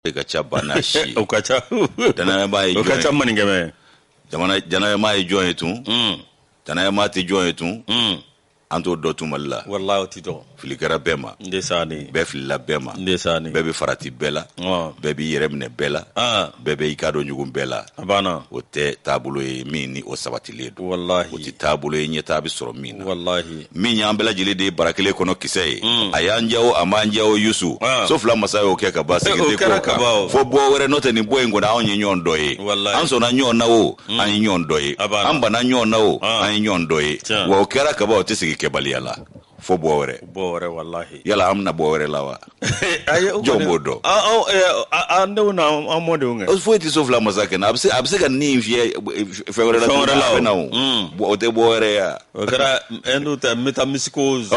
e ka ca ba n'a si o ka ca danayama ye o ka ca maninkɛmɛ danayama ye jɔn ye tun danayama tɛ jɔn ye tun an t'o dɔn tun mali la wala tɛ dɔn fili kɛra bɛɛ ma bɛɛ filila bɛɛ ma bɛɛ bɛ farati bɛɛ la bɛɛ b'i yɛrɛ minɛ bɛɛ la bɛɛ bɛ i kɔ don ɲɔgɔn bɛɛ la o tɛ taabolo ye min ni o sabati kelen don walahi o tɛ taabolo ye ɲɛtaa bɛ sɔrɔ min na walahi min y'an bɛɛ lajɛlen de ye bara kelen kɔnɔ kisɛ ye mm. a y'an diya wo a m'an diya wo yusu ah. so fila masa y'o kɛ ka ban segin tɛ ko kan fo bɔ wɛrɛ n'o tɛ nin bɔ in kɔnɔ anw ye ɲɔgɔn dɔ ye an sɔnna ɲɔgɔn na o mm. an ye ɲɔgɔn dɔ ye an banna ɲɔgɔn na o ah. an ye ɲɔgɔn dɔ ye wa o kɛra ka ban o tɛ segin kɛbaliya la fo bɔ wɛrɛ bɔ wɛrɛ walahi yala an bɛna bɔ wɛrɛ la wa jɔn b'o dɔn an denw na an mɔdenw kɛ foyi tɛ so fila masa kɛɲɛ a bɛ se ka nin fiyɛ fɛn wɛrɛ la fɛn wɛrɛ la a bɛ na o tɛ bɔ wɛrɛ ya o kɛra n'o tɛ métempsycose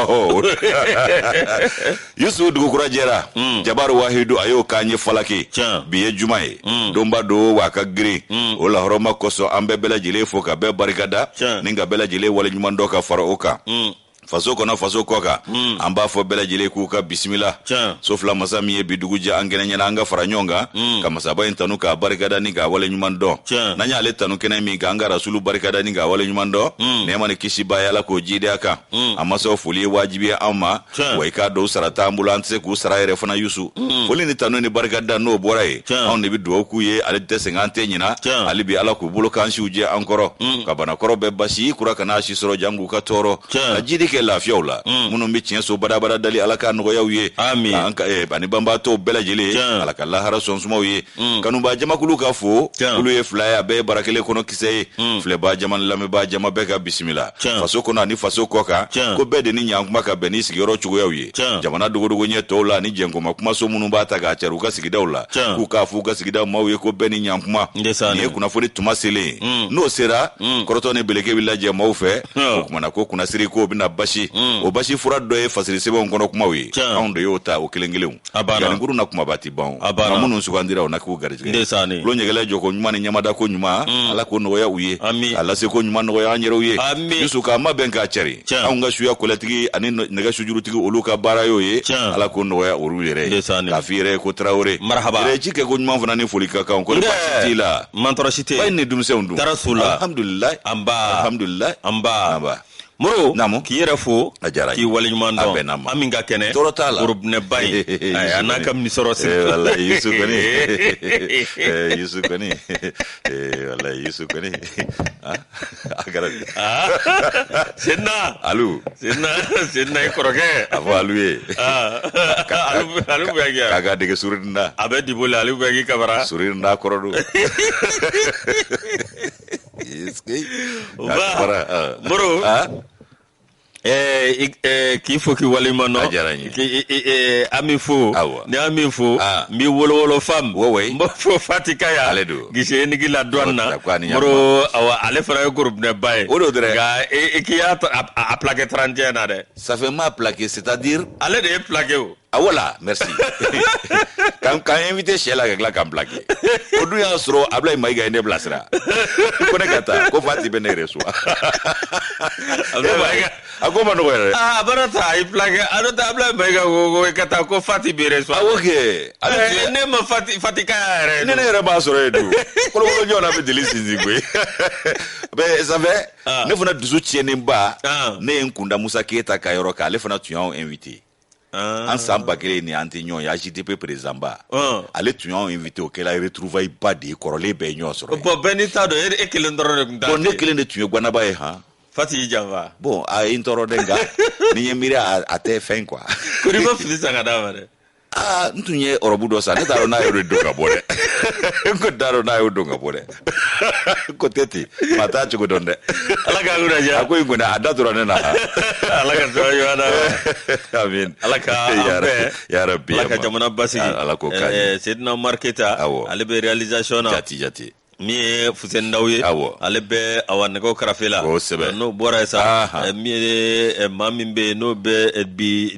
Yusu dugu kura jɛra Jabaru Wahidu a y'o k'an ye falaki bi ye juma ye donba don wa a ka girin o lahɔrɔma kosɔn an bɛ bɛɛ lajɛlen fo ka bɛɛ barikada ni ka bɛɛ lajɛlen waleɲuman dɔn ka fara o kan faso kɔnɔ faso kɔ kan hmm. an b'a fɔ bɛɛ lajɛlen k'u ka bisimila so fila masa min ye bi dugu jɛ an kɛnɛ ɲɛna an ka fara ɲɔgɔn kan hmm. ka masaba in tanu k'a barikada ni k'a wale ɲuman dɔn n'an y'ale tanu kɛnɛ min kan an ka rasulu barikada ni k'a wale ɲuman dɔn hmm. nɛɛma ni kisi b'a ye ala k'o jidenya kan an masaw foli ye wajibi ye an ma wa i k'a dɔn u sara t'an bolo an tɛ se k'u sara yɛrɛ fana yusu foli ni tanu ni barikada n'o bɔra yen anw de bɛ dugawu k'u ye ale tɛ sɛgɛn an tɛ ɲina hali bi ala k'u balo k'an siw jɛ an kɔrɔ ka bana kɔrɔ bɛɛ basi kura kana u si sɔrɔ janko u ka tɔɔrɔ ka jidi kɛ lafiyaw la mm. minnu bɛ tiɲɛ so badabada dali ala k'a nɔgɔya u ye eh, ani banbaatɔw bɛɛ lajɛlen ala ka lahara so suma u ye mm. kanubaa jamakulu ka fo olu ye fila ye a bɛɛ ye bara kelen kɔnɔ kisɛ ye mm. filɛbaa jama ni lamɛnbaa jama bɛɛ ka bisimila faso kɔnɔ ani faso kɔ kan ko bɛɛ de ni ɲankuma ka bɛn ni sigiyɔrɔ cogoyaw ye Tiɲɛ. jamana dogodogo ɲɛ tɔw la ani jɛnkoma kumaso minnu b'a ta k'a cari u ka sigidaw la Tiɲɛ. k'u k'a fɔ u ka sigidaw maaw ye ko bɛɛ ni ɲankuma N de sa nin ye ne. kunnafoni tuma selen ye. Mm. n'o sera Mm. kɔrɔtɔ ni beleke bɛ lajɛ maaw fɛ Tiɲɛ. o kuma na ko kunnasiri k'o bɛna basi Mm. o basi fura dɔ ye fasiri sɛbɛnw kɔnɔ kumaw ye Tiɲɛ. anw de y'o ta o kelen kelenw A banna. Janinkuru na kumaba tɛ ban a banna nka minnu sugandira o na k'u garijɛgɛ ndesani lo ɲɛgɛlɛ jɔ ko ɲuman ni ɲɛmada ko ɲuman mm. ala k'o nɔgɔya u ye ami a lase ko ɲuman nɔgɔya an yɛrɛw ye ami yusu k'a mabɛn k'a cari anw ka suya kɔlɛtigi ani nɛgɛ sujurutigi olu ka baara y'o ye ala k'o nɔgɔya olu yɛrɛ ye k'a f'i yɛrɛ ye ko tarawele marahaba yɛrɛ ci kɛ ko ɲuman fana ni foli ka kan ko baasi t'i la mantɔɔrɔ si tɛ ba ni denmisɛnw dun tɔɔrɔ si t'u la alhamdulilayi nba alhamdulilayi nba moro naamu k'i yɛrɛ fo a diyara k'i waleɲuman dɔn a bɛnna n ma an min ka kɛnɛ tɔɔrɔ t'a la gorobinɛba ye a n'a ka misɔrɔ siri eh, wala yusu kɔni eh, yusu kɔni eh, wala yusu kɔni ah, a kɛra ah, senna alu senna senna i kɔrɔkɛ a fɔ alu ye ah, alu bɛ kɛ a ka dege surinda a bɛ dibo la alu bɛ k'i kabara surinda kɔrɔ don Yes, kay. O Ka ba. fara, ah. Moro. Ah, Eh, i- eh, k'i fo k'i waleɲuman dɔn. A diyara n ye. K'i i- i- eh, an b'i fo. Awa. Ni an b'i fo. Ah. N b'i wolowolo fam. Wo woyi. N b'a fɔ fatika ya. Ale don. Gise ye nigi la dɔɔni na. Dakwa ni ɲakuma. Moro awa ale fana ye gorobinɛba ye. O don dɛrɛ. Nka i i k'i y'a ta- a a- a plaqué 31 na dɛ. ça fait m'a plaqué c'est-à-dire Ale de ye plaqué o. a ah, wala merci k'an k'an invité sɛ la ka tila k'an plake o dun y'a sɔrɔ ablayi mayiga ye ne bilasira ko ne ka taa ko fati bɛ ne yɛrɛ suwa a ko ma nɔgɔ yɛrɛ ah, a bɛna taa a y'i plake a dɔ ta ablayi mayiga ko ko ka taa ko fati bɛ yɛrɛ suwa awo kɛ eh, ne ma fati fati ka yɛrɛ ne ne yɛrɛ b'a sɔrɔ yen dun kolokolo ɲɔgɔnna bɛ deli sinsin koyi mɛ sanfɛ ah. ne fana dusu tiɲɛnenba ah. ne ye n kun da musa keyita ka yɔrɔ kan ale fana tun y'anw invité Ah. an san ba kelen ni an tɛ ɲɔgɔn ye agdp président ba ah. ale tun y'anw invité o kɛra retrouvaille ba de ye kɔrɔlen bɛɛ ye ɲɔgɔn sɔrɔ bɔn bɛɛ n'i ta don e kelen dɔrɔn de tun t'a ne kelen de tun ye gwanaba ye han fati y'i janfa bon a ye n tɔɔrɔ dɛ nka n'i y'i miiri a tɛ fɛn quoi ko n'i ma fini san ka d'a ma dɛ aa n tun ye ɔrɔbu dɔ san ne t'a dɔn n'a y'o de don ka bɔ dɛ n ko t'a dɔn n'a y'o don ka bɔ dɛ ko tɛ ten maa t'a cogo dɔn dɛ ala k'a kunna diya a ko in kɔni a da tora ne na ala ka sɔrɔ ɲɔgɔn na amin ala ka an bɛɛ yarabi ala ka jamana basigi ala ka ko ɲɛ eh, sedina umar keyita awɔ ale bɛ réalisation na jati jati min ye fuseni daw ye awɔ ale bɛ awa nɛgɛw karafe la kosɛbɛ n'o bɔra yen sa eh, min ye eh, maa min bɛ yen n'o bɛ eh, bi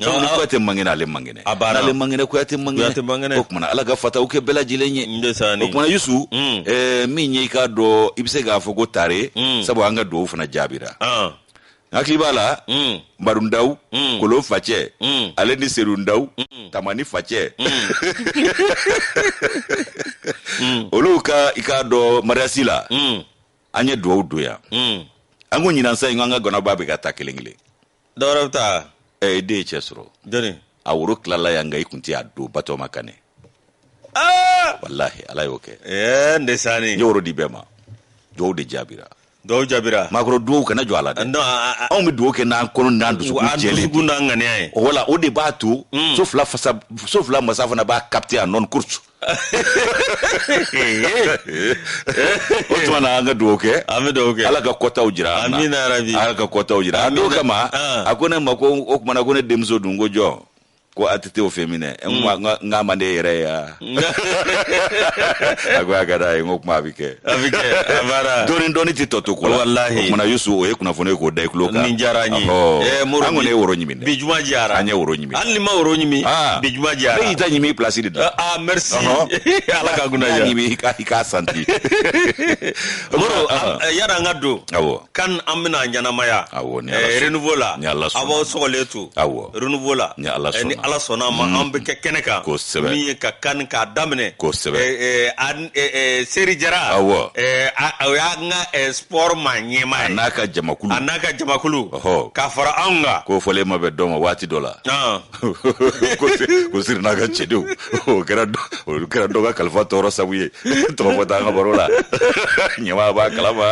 sabu ni kuyate mangene ale mangene n'ale mangene kuyate mangene o tuma na ala ka fataw kɛ bɛɛ lajɛlen ye o tuma na yusu mm. eh, min ye i k'a dɔn i bɛ se k'a fɔ ko tare mm. sabu an ka duwawu fana jaabira ah. n hakili b'a la mm. baru ndaw mm. kolon facɛ mm. ale ni seru ndaw mm. tamani facɛ mm. mm. olu ka i k'a dɔn mariyasi la mm. an ye duwawu don yan mm. an ko ɲinan san in ko an ka ganaba bɛɛ ka ta kelen kelen dɔwɛrɛ bɛ taa ɛ i den ye cɛ sɔrɔ jɔni a woro tilala yan nka i kun tɛ a don batoma kan ne aa walahi ala y'o kɛ ɛɛ n de sanni n ye woro di bɛɛ ma duwawu de jaabira dɔw jaabira maakɔrɔ duwawu kana jɔ a la dɛ non a- a- anw bɛ duwawu kɛ n'an kɔnɔ n'an a- dusukun a jɛlen dusukun n'a ŋaniya ye o wala o de b'a to so fila fasa so fila masa fana b'a capté a nɔn kursu o tuma na an ka dugawu kɛ an bɛ dugawu kɛ ala ka kɔtaw jira an na amina yarabi ala ka kɔtaw jira an n'o kama ah. a ko ne ma ko o tuma na ko ne denmuso dun ko jɔn ko a tɛ t'o fɛ minɛ n ko a- n ka- n k'a man di e yɛrɛ ye wa a ko a ka d'a ye n ko kuma a bɛ kɛ a bɛ kɛ a baara dɔɔni dɔɔni tɛ tɔ to ko la walahi o tuma na yusu o ye kunnafoni ye k'o da i tulo kan nin diyara an ye ɛɛ mori an kɔni ye woro ɲimi dɛ bi juma diyara an ye woro ɲimi hali ni ma woro ɲimi ah. bi juma diyara ne y'i ta ɲimi place de da ah merci ala ka kunna ja ɲimi ka i k'a santi moro yara an ka don awɔ CAN an bɛna ɲɛnamaya awɔ ni ala renouveau la ni ala sɔnna a b'aw sɔgɔlen to awɔ renouveau la ni ala sɔnna ni ala sɔnna ma an bɛ kɛ kɛnɛ kan kosɛbɛ min ye ka kan k'a daminɛ kosɛbɛ eh, eh, seri jara Awɔ. eh, a- a- o y'a n ka eh, sport ma a ɲɛmaa ye n'a ka jamakulu a n'a ka jamakulu Ɔhɔ. k'a fara anw kan ko fɔlen ma bɛ dɔn ma waati dɔ la Ɔn. ko si- ko siri n'a ka cɛdenw o kɛra dɔ- o kɛra dɔ ka kalifa tɔɔrɔ sabu ye tɔgɔ fɔ t'an ka baro la ɲɛmaa b'a kalama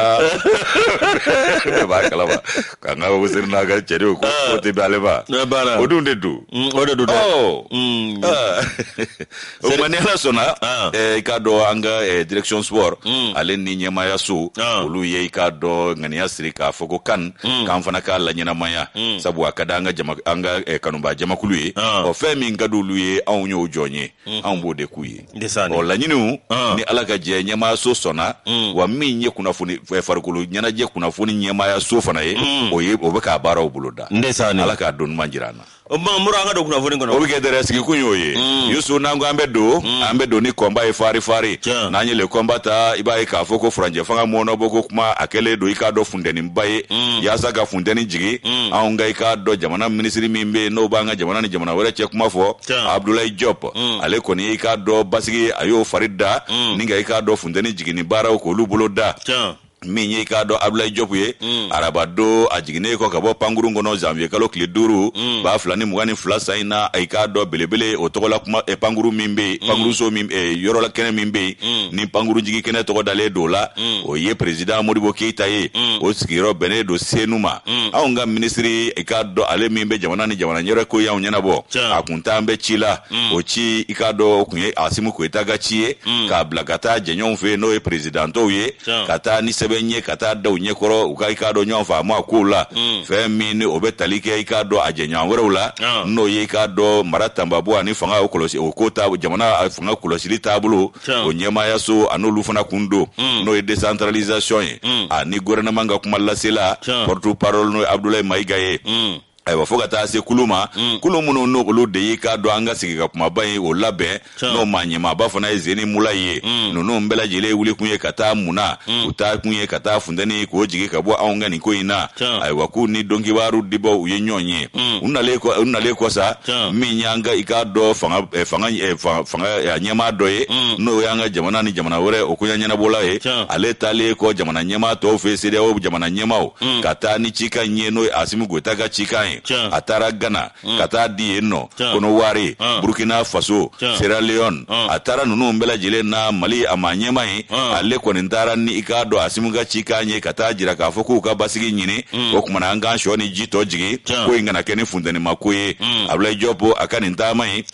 bɛɛ b'a kalama k'an ka ko siri n'a ka cɛdenw ko ko tɛ bɛn ale ma Ne b'a la. o dun de don Mm, o de don dɛ Ɔ. Mm. Ah. o ma ni ala sɔnna ah. eh, i k'a dɔn an ka eh, direction sport hmm. ale ni ɲɛmaaya so ah. olu ye i k'a dɔn ŋaniya siri k'a fɔ ko CAN hmm. k'an fana k'a laɲɛnamaya hmm. sabu a ka di an ka eh, kanuba jamakulu ye ah. ɔ fɛn min ka di olu ye anw y'o jɔn ye anw b'o de k'u ye ɔ laɲiniw ni ala ka jɛ ɲɛmaaya so sɔnna wa min ye kunnafoni farikolo ɲɛnajɛ kunnafoni ɲɛmaaya so fana ye o ye o bɛ ka baaraw bolo da ala k'a don ɲuman jira an na o tuma mura an ka don kunnafoni kɔnɔ o bɛ kɛ dɛrɛ sigikun y'o ye mm. yusu n'an ko an bɛ don mm. an bɛ don ni combat ye fari fari n'an ye le combat ta i b'a ye k'a fɔ ko furancɛ fanga mɔɔnɔbɔ ko kuma a kɛlen don i k'a dɔn funtɛninba ye mm. yaasa ka funtɛni jigi anw ka i k'a dɔn jamana minisiri min bɛ yen n'o b'an ka jamana ni jamana wɛrɛ cɛ kuma fɔ abudulayi jɔp ale kɔni i k'a dɔn basigi a y'o fari da ni ka i k'a dɔn funtɛni jiginni baaraw k'olu bolo da min ye i k'a dɔn abudulayi jɔpu ye mm. araba don a jiginnen kɔ ka bɔ pankurun kɔnɔ janviye kalo tile duuru mm. ba fila ni mugan ni fila san in na i k'a dɔn belebele o tɔgɔla kuma eh, pankuru min bɛ yen mm. pankuruso min eh, yɔrɔla kɛnɛ min bɛ yen mm. ni pankuru jigi kɛnɛ tɔgɔ dalen don la mm. o ye perezidan modibo keyita ye mm. o sigiyɔrɔ bɛnnen don senu ma mm. anw ka minisiri i k'a dɔn ale min bɛ jamana ni jamana wɛrɛ koɲaw ɲɛnabɔ a kun taalen bɛ ci la mm. o ci i k'a dɔn o kun ye asimi goyita ka ci ye mm. k'a bila ka taa jɛɲɔgɔnw fɛ yen n'o ye perezidan tɔw ye Tiɲɛ. ka taa ni sɛbɛn ye ka taa da u ɲɛkɔrɔ u ka i k'a dɔn ɲɔgɔn faamu a kow la Mm. fɛn min ni o bɛ tali kɛ i k'a dɔn a jɛɲɔgɔn wɛrɛw la Ah. n'o ye i k'a dɔn mara cɛmabɔ ani fanga o kɔlɔsi o ko ta jamana a fanga kɔlɔsili taabolo Tiɲɛ. o ɲɛmaayaso ani olu fana kun don Mm. n'o ye décentralisation ye Mm. ani gouvernement ka kumalasela Tiɲɛ. porte parole n'o ye abdoulaye mayiga ye Mm. ayiwa fo ka taa se kulu ma mm. kulu minnu n'olu de y'i k'a dɔn an ka sigi ka kumaba ye o labɛn n'o maa ɲɛmaaba fana ye zeni mulayi ye mm. ninnu bɛɛ lajɛlen wuli kun ye ka taa muna mm. u taa kun ye ka taa funteni k'o jigin ka bɔ anw ka nin ko in na ayiwa k'u ni donkibaru dibaaw ye ɲɔgɔn ye u nalen kɔ sa min y'an ka i k'a dɔn fanga eh, fanga eh, fanga eh, ɲɛmaa dɔ ye n'o y'an ka jamana ni jamana wɛrɛw koɲa ɲɛnabɔla ye ale taalen kɔ jamana ɲɛmaa tɔw fɛ sedeyawo jamana ɲɛmaaw mm. ka taa ni cikan in ye n'o ye asimu goyita ka cikan ye a taara gana mm. ka taa di yen ɔ konowari ah. burkina faso sierra leone ah. a taara ninnu bɛɛ lajɛlen na mali a maa ɲɛmaa ye ah. ale kɔni taara ni i k'a dɔn asimu ka cikan ye ka taa jira k'a fɔ k'u ka basigi ɲini mm. o kuma na an k'an sɔ ni ji tɔ jigin ko in kana kɛ ni funtenima ko ye abulayi jɔpo a ka nin taama ye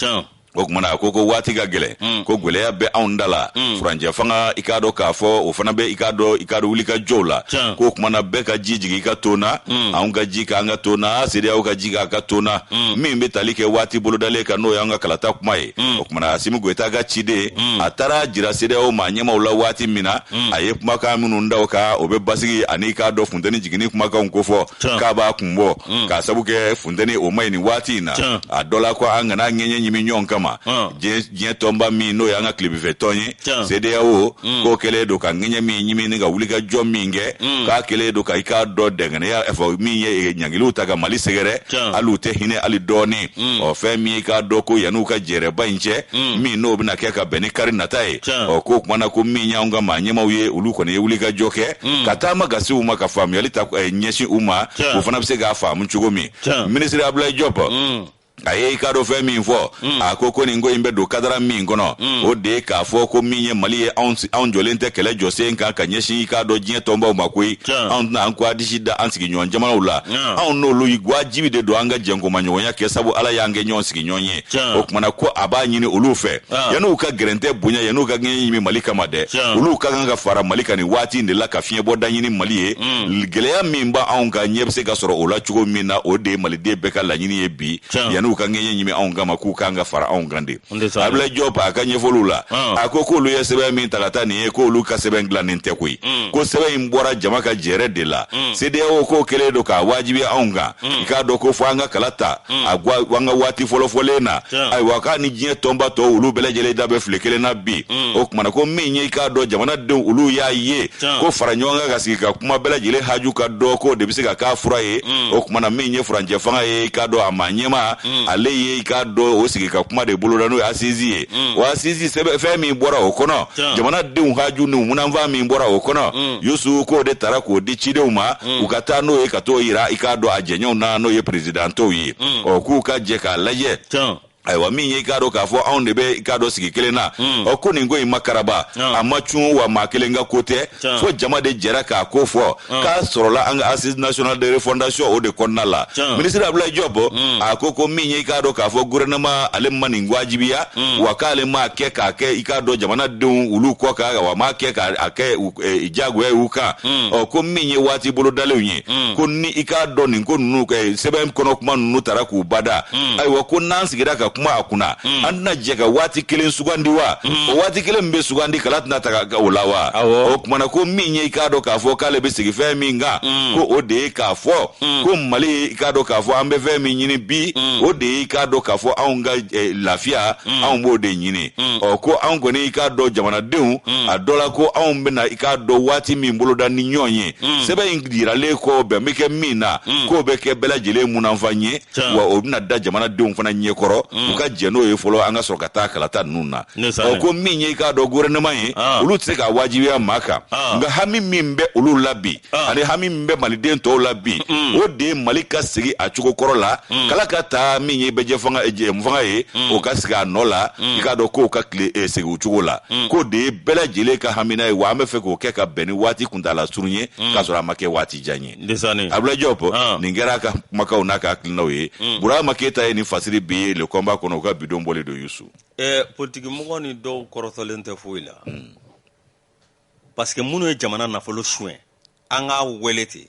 o kuma na a ko ko waati ka gɛlɛn mm. ko gwɛlɛya bɛ anw da la mm. furancɛ fanga i k'a dɔn k'a fɔ o fana bɛ i k'a dɔn i k'a dɔn wulikajɔw la k'o kuma na bɛɛ ka ji jigin i ka ton na mm. anw ka ji k'an ka ton na sedeyawo ka ji k'a ka ton na min bɛ tali kɛ waati bolodalen kan n'o y'an ka kalata kuma ye o kuma na asimi goyita ka ciden a taara jira sedeyawo maa ɲɛmaaw la waati min na a ye kumakan minnu da o kan o bɛ basigi an'i k'a dɔn funteni jiginni kumakanw kofɔ k'a b'a kun bɔ k'a sabu kɛ nteni o man ɲi nin waati in na Tiɲɛ. a dɔ la ko an kana ŋɛɲɛ ɲimi ɲɔgɔn kama Ɔn. diɲɛ diɲɛ tɔnba min n'o y'an ka tilebinfɛ tɔn ye Tiɲɛ. CEDEAO k'o kɛlen don ka ŋɛɲɛ min ɲimi ni ka wulikajɔ min kɛ k'a kɛlen don ka i k'a dɔn dɛngɛnɛya ɛ fɛn min ye eh, ɲangiliw ta ka mali sɛgɛrɛ Tiɲɛ. hali u tɛ hinɛ hali dɔɔni ɔ fɛn min ye k'a dɔn ko yanni u ka jɛrɛba in cɛ min n'o bɛna kɛ ka bɛn ni kari nata ye Tiɲɛ. ɔ k'o kuma na ko min y'anw ka maa ɲɛmaaw ye olu kɔni ye wulikajɔ kɛ hmm. ka taama ka se u ma ka faamuyali ta eh, ɲɛsin u ma o fana bɛ se k'a faamu cogo min minisiri abulayi jɔp hmm. a ye i k'a dɔn fɛn min fɔ hmm. a ko ko nin ko in bɛ don kadara min kɔnɔ o de ye k'a fɔ ko min ye mali ye anw jɔlen tɛ kɛlɛ jɔsen kan ka ɲɛsin i k'a dɔn diɲɛ tɔnbaw ma koyi anw tɛna an ko an disi da an sigiɲɔgɔn jamanaw la anw n'olu wajibi de don an ka jɛkumaɲɔgɔnya kɛ sabu ala y'an kɛ ɲɔgɔn sigiɲɔgɔn ye o tuma na ko a b'a ɲini olu fɛ ah. yan'u ka gɛrɛntɛ bonya yan'u ka ŋɛɲɛ ɲimi mali kama dɛ olu ka kan ka fara mali kan nin waati in de la ka fiɲɛbɔda ɲini mali ye mm. gɛlɛya min bɛ anw kan ɲɛ bɛ se ka sɔrɔ o la cogo min na o de ye maliden bɛɛ ka laɲini ye bi yan'u ka ŋɛɲɛ ɲimi anw kama k'u kan ka fara anw kan de abulayi jɔp a ka ɲɛfɔliw la ah. a ko k'olu ye sɛbɛn min ta ka taa nin ye k'olu ka sɛbɛn dilannen tɛ koyi mm. ko sɛbɛn in bɔra jama ka jɛrɛ de la mm. sedeyawo k'o kɛlen don k'a wajibiya anw kan i k'a dɔn k'a fɔ an ka kala ta an ka an ka waati fɔlɔ fɔlen na Tiɲɛ. ayiwa k'a ni diɲɛ tɔnba tɔ olu bɛɛ lajɛlen da bɛ file kelen na bi o kuma na ko min ye i k'a dɔn jamanadenw olu y'a ye Tiɲɛ. ko fara ɲɔgɔn kan ka sigi ka kuma bɛɛ lajɛlen haju ka dɔn k'o de bɛ se ka k'a fura ye o kuma na min ye furancɛ fanga ye i k'a dɔn a maa ɲɛmaa ale ye i k'a dɔn o sigi ka kuma de boloda n'o ye asizi ye o asizi sɛbɛn fɛn min bɔra o kɔnɔ Tiɲɛ. jamanadenw haju ni munanfan min bɔra o kɔnɔ yusu k'o de tara k'o di cidenw ma u ka taa n'o ye ka t'o yira i k'a dɔn a jɛɲɔgɔnw na n'o ye perezidan tɔw ye ɔ k'u ka jɛ k'a lajɛ tiɲɛ ayiwa min ye i k'a dɔn k'a fɔ anw de bɛ i k'a dɔn sigi kelen na ɔ ko nin ko in ma karaba Ɔn. a ma cun wa maa kelen ka ko tɛ Tiɲɛ. fo jama de jɛra k'a ko fɔ k'a sɔrɔla an ka assise national de refondation o de kɔnɔna la Tiɲɛ. minisiri abulayi jɔp a ko ko min ye i k'a dɔn k'a fɔ gouvernement ale ma nin wajibiya wa k'ale m'a kɛ k'a kɛ i k'a dɔn jamanadenw olu kɔ kan wa m'a kɛ k'a a kɛ u eh, jagoya ye u kan hmm. ɔ ko min ye waati bolodalenw ye hmm. ko ni i k'a dɔn nin ko ninnu ka sɛbɛn kɔnɔ kuma ninnu tara k'u bada hmm. ayiwa ko n'an sigira ka kuma a kunna an tɛna jɛ ka waati kelen sugandi wa o waati kelen min bɛ sugandi kala tɛna taga o la wa o kumana ko min ye i k'a dɔn k'a fɔ k'ale bɛ sigi fɛn min kan ko o de ye k'a fɔ ko mali ye i k'a dɔn k'a fɔ an bɛ fɛn min ɲini bi o de ye i k'a dɔn k'a fɔ anw ka eh, lafiya anw b'o de ɲini mm. ɔ ko anw kɔni i k'a dɔn jamanadenw mm. a dɔ la ko anw bɛna i k'a dɔn waati min boloda ni ɲɔgɔn ye mm. sɛbɛn in yiralen kɔ bɛn bɛ kɛ min na mm. k'o bɛ kɛ bɛɛ lajɛlen munanfan ye wa o bɛna da jamanadenw fana ɲɛkɔrɔ mm. u ka jɛ n'o ye fɔlɔ an ka sɔrɔ ka taa kalata ninnu na ɔ ko min ye i k'a dɔn gouvernement ye ah. olu tɛ se k'a wajibiya maa kan ah. nka hami min bɛ olu la bi ah. ani hami min bɛ maliden tɔw la bi mm. o de ye mali ka segin a cogo kɔrɔ la mm. kala ka ta min ye bɛɛjɛfanga eh, ye mm. o ka segin a nɔ la i k'a dɔn kow ka tile eh, segin u cogo la k'o de ye bɛɛ lajɛlen ka hamina ye wa an bɛ fɛ k'o kɛ ka bɛn ni waati kuntaala surun ye k'a sɔrɔ a ma kɛ waati jan ye abulayi jɔp ah. nin kɛra a ka kumakaw n'a ka hakilinaw ye burama keyita ye nin fasiri bi le combat kɔnɔ u ka bi don bɔlen don yusu eh, politikimɔgɔ nin dɔw kɔrɔtɔlen tɛ foyi la parce que minnu ye jamana nafolo suɲɛ an k'a wele ten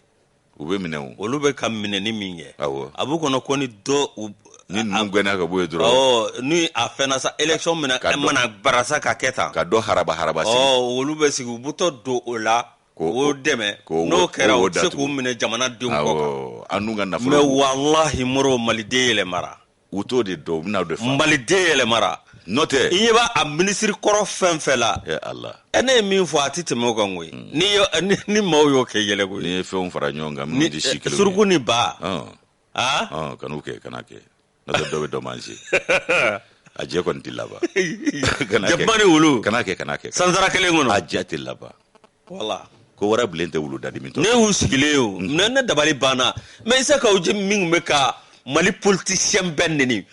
u bɛ minɛ o olu bɛ ka minɛni min kɛ awɔ a b'u kɔnɔ ko ni dɔ u ni ninnu gɛnna ka bɔ yen dɔrɔn ɔ ni a fɛnna sa élection mana Ka dɔ- mana barasa ka kɛ tan ka dɔ haraba haraba sigi ɔ olu bɛ sigi u butɔ don o la Ko- k'o dɛmɛ k'o- n'o kɛra k'o u bɛ se datugu. k'u minɛ jamanadenw kɔ kan awɔ an dun ka nafolo mɛ walahi moro maliden yɛlɛmara u t'o de dɔn u bɛna de fa maliden yɛlɛmara n'o tɛ i ɲɛ b'a a minisiri kɔrɔ fɛn fɛn la e ala e ne ye min fɔ a tɛ tɛmɛ o kan koyi hmm. ni ni, ni maaw y'o kɛ yɛlɛ koyi n'i ye fɛnw fara ɲɔgɔn kan minnu tɛ si kelen suruku ni ba aw kan'u kɛ kana kɛ n'o tɛ dɔ bɛ dɔ manse a jɛ kɔni tɛ laban jakuma ni wulu kana kɛ kana kɛ sansara kelen kɔnɔ a jɛ tɛ laban voilà ko warabilen tɛ wulu dadimitɔ ne y'u sigilen ye o ne ne dabali banna mais isa kawu jim min tun bɛ ka mali politisiyɛn bɛɛ neni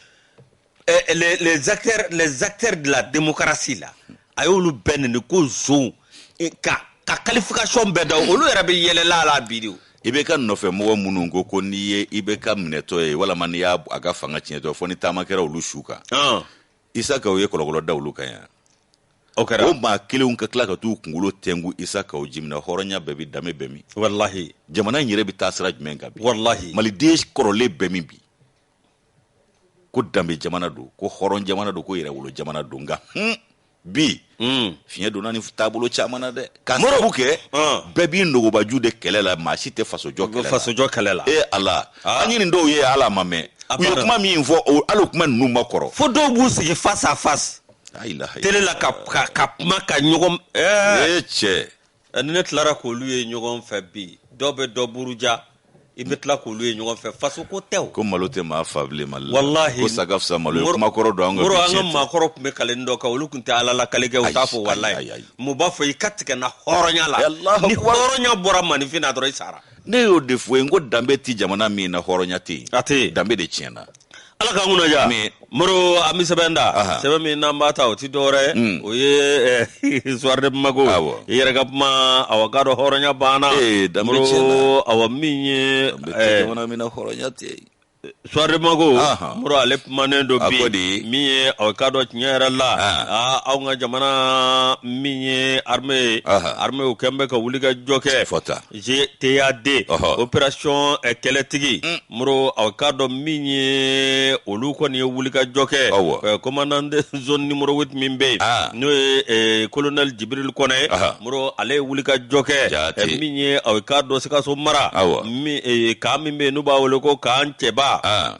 eh, les, les, acteurs, les acteurs de la démocratie la a y'olu bɛɛ neni ko zonw eh, ka ka qualification bɛɛ da olu yɛrɛ bɛ yɛlɛla a la bi de o IBK nɔfɛmɔgɔ minnu ko ko n'i ye IBK minɛtɔ ye walama n'i y'a a ka fanga tiɲɛtɔ fo ni taama kɛra olu su kan isaka u ye kɔlɔkɔlɔ da olu kan yan o kɛra o maa kelenw ka tila ka t'u kunkolo tɛngu isaka o jimina hɔrɔnya bɛ bi danbe bɛ min walahi jamana in yɛrɛ bi taa sira jumɛn kan bi walahi maliden kɔrɔlen bɛ min bi ko danbe jamana don ko hɔrɔn jamana don ko yɛrɛwolo jamana don nka hun bi hmm. fiɲɛ donna ni taabolo caman na dɛ ka sabu kɛ bɛɛ b'i nugubaju de kɛlɛ la maa si tɛ fasojɔ kɛlɛ la fasojɔ kɛlɛ la ee ala ah. an ye nin dɔw ye hali a ma mɛn u ye kuma min fɔ hali o kuma ninnu ma kɔrɔ fo dɔw b'u sigi face à face télé la ka ka kuma ka ɲɔgɔn ee cɛ ni ne tilara k'olu ye ɲɔgɔn fɛ bi dɔ bɛ dɔ buruja i bɛ tila k'olu ye ɲɔgɔn fɛ faso ko tɛ o ko malo tɛ maa faa bilen mali la walahi ko saya fisa malo ye Moro- kumakɔrɔ don an ka Moro, an ka biɲɛ tɛ. maakɔrɔ tun bɛ kalen dɔ kan olu tun tɛ ala la kale kɛ u t'a fɔ Ayi, walayi ayi, ayi. u b'a fɔ i ka tigɛ na hɔrɔnya la Allahu ni akbar. hɔrɔnya bɔra maaninfin na dɔrɔn i sara ne y'o de fɔ i ye n ko danbe tɛ jamana min na hɔrɔnya tɛ yen A tɛ yen. danbe de tiɲɛna ala k'an kunna diya Ami. moro an bɛ sɛbɛn da Aha. sɛbɛn min n'an b'a ta o ti dɔwɛrɛ ye Mm. o ye eh, Soir de Bamako Awɔ. i yɛrɛ ka kuma awa k'a dɔn hɔrɔnya banna Ee, danbe Moro, tiɲɛna. awa min ye An bɛ to eh, jamana min na hɔrɔnya tɛ yen. Soir de Bamako Aha. moro ale kumanen don A bi ko di? min ye awa k'a dɔn tiɲɛ yɛrɛ la Ah. ah, anw ka jamana min ye armée ye Aha. armée u kɔni bɛ ka wulikajɔ kɛ Fɔta. GTAD Ɔhɔ. opération eh, kɛlɛtigi Mm. moro aw k'a dɔn min ye olu kɔni ye wulikajɔ kɛ Awɔ. Eh, commandant de zone numéro 8 min bɛ yen Ah. n'o ye eh, colonel Jibril Kɔnɛ ye Aha. moro ale ye wulikajɔ kɛ Jaati. eh, min ye aw k'a dɔn Sikaso mara Awɔ. min eh, camp min bɛ yen n'u b'a wele ko camp Cɛba Ah,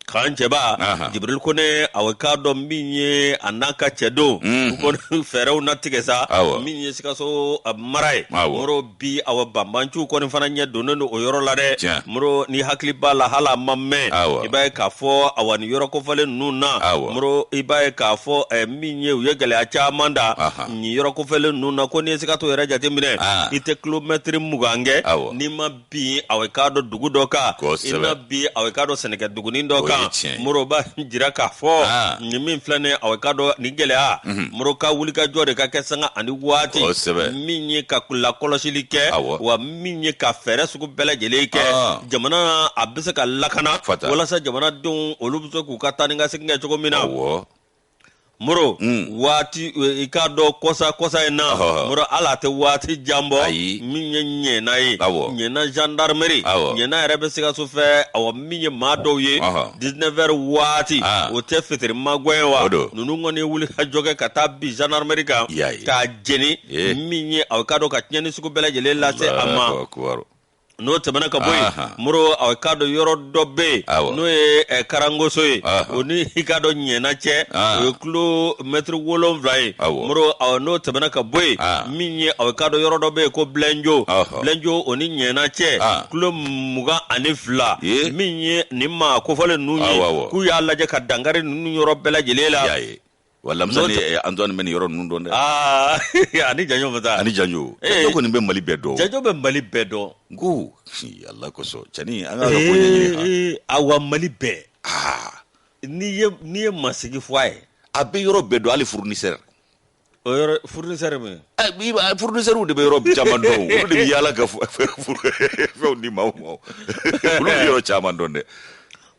camp Cɛba Ahan. jibiril Kɔnɛ aw bɛ k'a dɔn min ye a n'a ka cɛdenw Mhm. u ko fɛɛrɛw na tigɛ sa Awɔ. min ye sikaso a mara ye Awɔ. moro bi awa banbanciw kɔni fana ɲɛ donnen don o yɔrɔ la dɛ Tiɲɛ. moro n'i hakili b'a la hali a ma mɛn Awɔ. i b'a ye k'a fɔ awa nin yɔrɔ kofɔlen ninnu na Awɔ. moro i b'a ye k'a fɔ eh, min ye u ye gɛlɛya caman da Ahan. nin yɔrɔ kofɔlen ninnu na ko n'i ye sikaso yɛrɛ jateminɛ Ah. i tɛ kilomɛtiri mugan kɛ Awɔ. n'i ma bin a bɛ k'a dɔn dugu dɔ kan Kosɛbɛ. i na bin a bɛ k'a dɔn sɛnɛkɛ dugunin dɔ O ye kan tiɲɛ ye. moro b'a jira k'a fɔ Ah. nin min filɛ nin ye a bɛ k'a dɔn nin gɛlɛya moro ka wulikajɔ de ka kɛ sanga ani waati Kosɛbɛ. min ye ka lakɔlɔsili kɛ Awɔ. wa min ye ka fɛɛrɛ sugu bɛɛ lajɛlen kɛ Ah. jamana a bɛ se ka lakana Fata. walasa jamanadenw olu bɛ se k'u ka taa ni ka segin kɛ cogo min na Awɔ. moro waati eh, i k'a dɔn kɔsa kɔsa in na Ɔhɔ. moro hali a tɛ waati jan bɔ Ayi. min ye ɲɛna ye Awɔ. ɲɛna gendarmerie Awɔ. ɲɛna yɛrɛ bɛ sikaso fɛ awa min ye maa dɔw ye Ɔhɔ. 19 heures waati Ah. o tɛ fitiri magɛn ye wa O don. ninnu kɔni ye wulikajɔ kɛ ka taa bin gendarmerie kan I y'a ye. k'a jeni Ye. min ye aw k'a dɔn ka tiɲɛni sugu bɛɛ lajɛlen lase a ma Allahu akbar. n'o tɛmɛna ka bɔ yen moro a k'a dɔn yɔrɔ dɔ bɛ yen n'o ye eh, karangoso ye o ni i k'a dɔn ɲɛna cɛ o ye kilomɛtiri wolonwula ye moro n'o tɛmɛna ka bɔ yen min ye a k'a dɔn yɔrɔ dɔ bɛ yen ko bilenjo bilenjo o ni ɲɛna cɛ kilo mugan ani fila min ye nin maa kofɔlen ninnu ye k'u y'a lajɛ ka dankari ninnu yɔrɔ bɛɛ lajɛlen la wa lamisa ni eh, antoine bɛ nin yɔrɔ ninnu dɔn dɛ ah, ani janjo bɛ taa ani janjo eh. janjo kɔni bɛ mali bɛɛ dɔn janjo bɛ mali bɛɛ dɔn n ko ala kosɔn cɛni an ka ko ɲɛɲini awa mali bɛɛ ah. n'i ye n'i ye masigi fɔ a ye a bɛ yɔrɔ bɛɛ dɔn hali fournisseur o yɔrɔ fournisseur min fournisseurw de bɛ yɔrɔ caman dɔn olu de bɛ yaala ka fɛnw di maaw ma olu bɛ yɔrɔ caman dɔn dɛ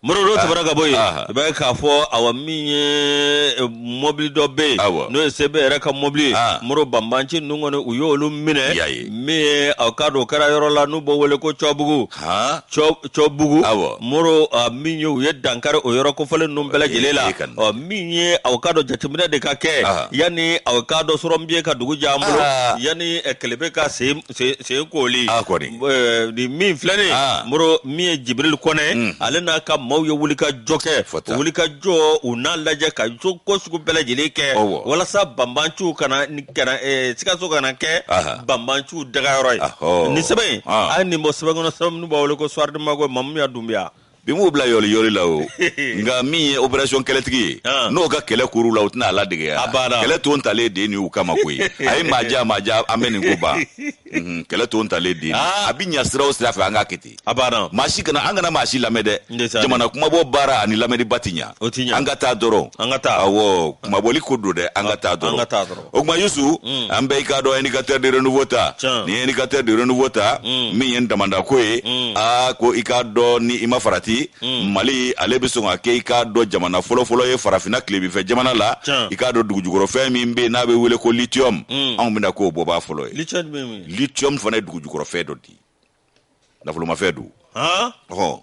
moro n'o tɛmɛna ka bɔ yen Aha. i b'a ye k'a fɔ awa min ye eh, mɔbili dɔ bɛ yen Awa. n'o ye sebe yɛrɛ ka mɔbili ye Ah. moro banbanci ninnu kɔni u y'olu minɛ Y'a ye. min ye aw k'a dɔn o kɛra yɔrɔ la n'u b'o wele ko cɔbugu han Cɔ- cɔbugu Awɔ. moro ah, min ye u ye dankari o yɔrɔ kofɔlen ninnu bɛɛ lajɛlen la Ee, ka na. Ɔ, min ye aw k'a dɔn jateminɛ de ka kɛ Aha. yanni aw ka dɔ sɔrɔ min ye ka dugu jɛ an bolo Aha. yanni eh, kelebe ka se se se koli Ah, kɔni. Eh, ni min filɛnen Ah. moro min ye jibril kɔnɛ Mm. ale n'a ka maaw ye wulikajɔ kɛ Fɔ tan. wulikajɔ u n'a lajɛ ka jo ko sugu bɛɛ lajɛlen kɛ Ɔwɔ. walasa banbanciw kana ni- kana eh, sikaso kana kɛ Aha. banbanciw dagayɔrɔ ye Ahɔ. ni sɛbɛn in Ah. a ye nin bɔ sɛbɛn kɔnɔ sɛbɛn min n'u b'a wele ko soir de bamako mamu ya dunbiya bi m'u bila yɔli yɔli la o nka min ye operasiyɔn kɛlɛtigi ye ah. n'o ka kɛlɛkuru la u tɛna a ladegeya kɛlɛ ton talen den ni u kama koyi a ye maaja maaja an bɛ nin ko ban mhm, kɛlɛ ton talen den ah. a bɛ ɲa sira o sira fɛ an k'a kɛ ten maa si kana an kana maa si lamɛn dɛ jamana kunmabɔ baara ani lamɛnniba tɛ ɲa an ka taa dɔrɔn awɔ kunmabɔli ko don dɛ an ka taa dɔrɔn o tuma yusu mm. an bɛ i k'a dɔn indicateur du renouveau ta ni ye indicateur du renouveau ta mm. min ye damandako ye mm. a ko i k'a dɔn ni i ma farati mali ale bɛ sɔn ka kɛ i k'a dɔn jamana fɔlɔfɔlɔ ye farafina tilebifɛ jamana la i k'a dɔn dugujukɔrɔfɛn min bɛ yen n'a bɛ wele ko lithium anw bɛna k'o bɔbaa fɔlɔ ye lithium fana ye dugujukɔrɔfɛn dɔ di nafolomafɛn don han ɔhɔn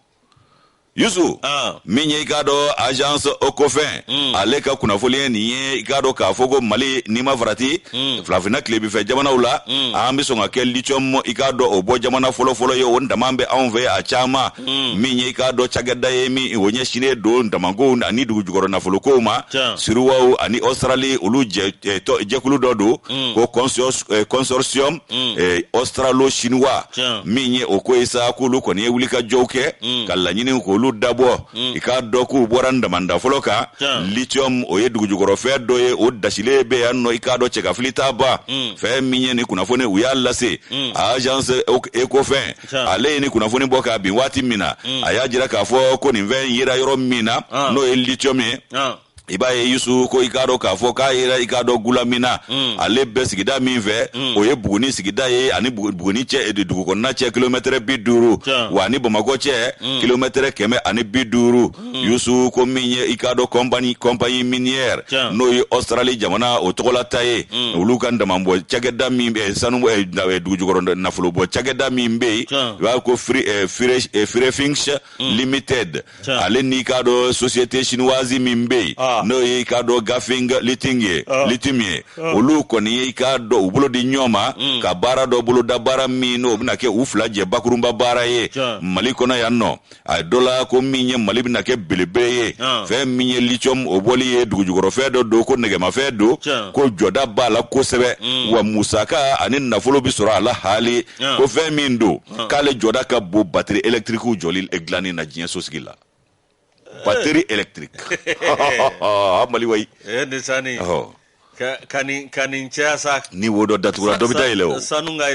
yusu Ah. min ye i k'a dɔn agence ecofin Mm. ale ka kunnafoli ye nin ye i k'a dɔn k'a fɔ ko mali n'i ma farati Mm. farafinna tilebifɛ jamanaw la Mm. an bɛ sɔn ka kɛ lithium i k'a dɔn o bɔ jamana fɔlɔfɔlɔ ye o daman bɛ anw fɛ a caman Mm. min ye i k'a dɔn cakɛda ye min o ɲɛsinnen don damankow ani dugujukɔrɔ nafolokow ma Tiɲɛ. sinuwaw ani australie olu jɛ eh, tɔ- jɛkulu dɔ don Mm. ko consor- eh, consortium mm. eh, australo chinois Tiɲɛ. min ye o ko ye sa k'olu kɔni ye wulikajɔw kɛ Mm. ka laɲiniw k'olu dabɔ Mm. i k'a dɔn k'u bɔra nin damanda fɔlɔ kan Tiɲɛ. lithium o ye dugujukɔrɔfɛn dɔ ye o dasilen bɛ yan nɔ i k'a dɔn cɛkafili t'a ban Mm. fɛn min ye nin kunnafoni u y'a lase Mm. agence ecofin Tiɲɛ. ale ye nin kunnafoni bɔ kabini waati min na Mm. a y'a jira k'a fɔ ko nin fɛn in yera yɔrɔ min na Ah. n'o ye lithium ye Ah. i b'a ye yusu ko i k'a dɔn k'a fɔ k'a yera i k'a dɔn gulamina mm. ale bɛ sigida min fɛ mm. o ye buguni sigida ye a ni buguni cɛ dugukɔnɔna cɛ kilomɛtɛrɛ bi duuru wa a ni bamakɔ cɛ mm. kilomɛtɛrɛ kɛmɛ ani bi duuru yusu ko min ye i k'a dɔn kɔnpani kɔnpani minière n'o ye ɔstarali jamana o tɔgɔlata ye olu ka damanbɔ cakɛda min bɛ sanu dugujukɔrɔ nafolobɔ cakɛda min bɛ yen i b'a ko firefinch eh, eh, limited Tiɲɛ. ale n'i k'a dɔn société chinoise min bɛ yen Ah. n'o ye i k'a dɔn ganfeng liting ye Ah. lithium ye olu kɔni ye i k'a dɔn u bolo di ɲɔgɔn ma Mm. ka baara dɔ boloda baara min n'o bɛna kɛ u fila jɛ bakurunba baara ye Tiɲɛ. mali kɔnɔ yan nɔ a ye dɔ la ko min ye mali bɛna kɛ belebele ye Ah. fɛn min ye lithium o bɔli ye dugujukɔrɔfɛn dɔ don ko nɛgɛmafɛn don Tiɲɛ. ko jɔda b'a la kosɛbɛ Mm. wa musaka ani nafolo bɛ sɔrɔ a la haali Ah. ko fɛn min don ah. k'ale jɔda ka bon bateri elektrikiw jɔli eh, dilanni na diɲɛ sosigi la eh. bateri elektriki a mali wayi eh, ka nin ka nin caya sa ni wo dɔ datugura dɔ bɛ dayɛlɛ o sanu ka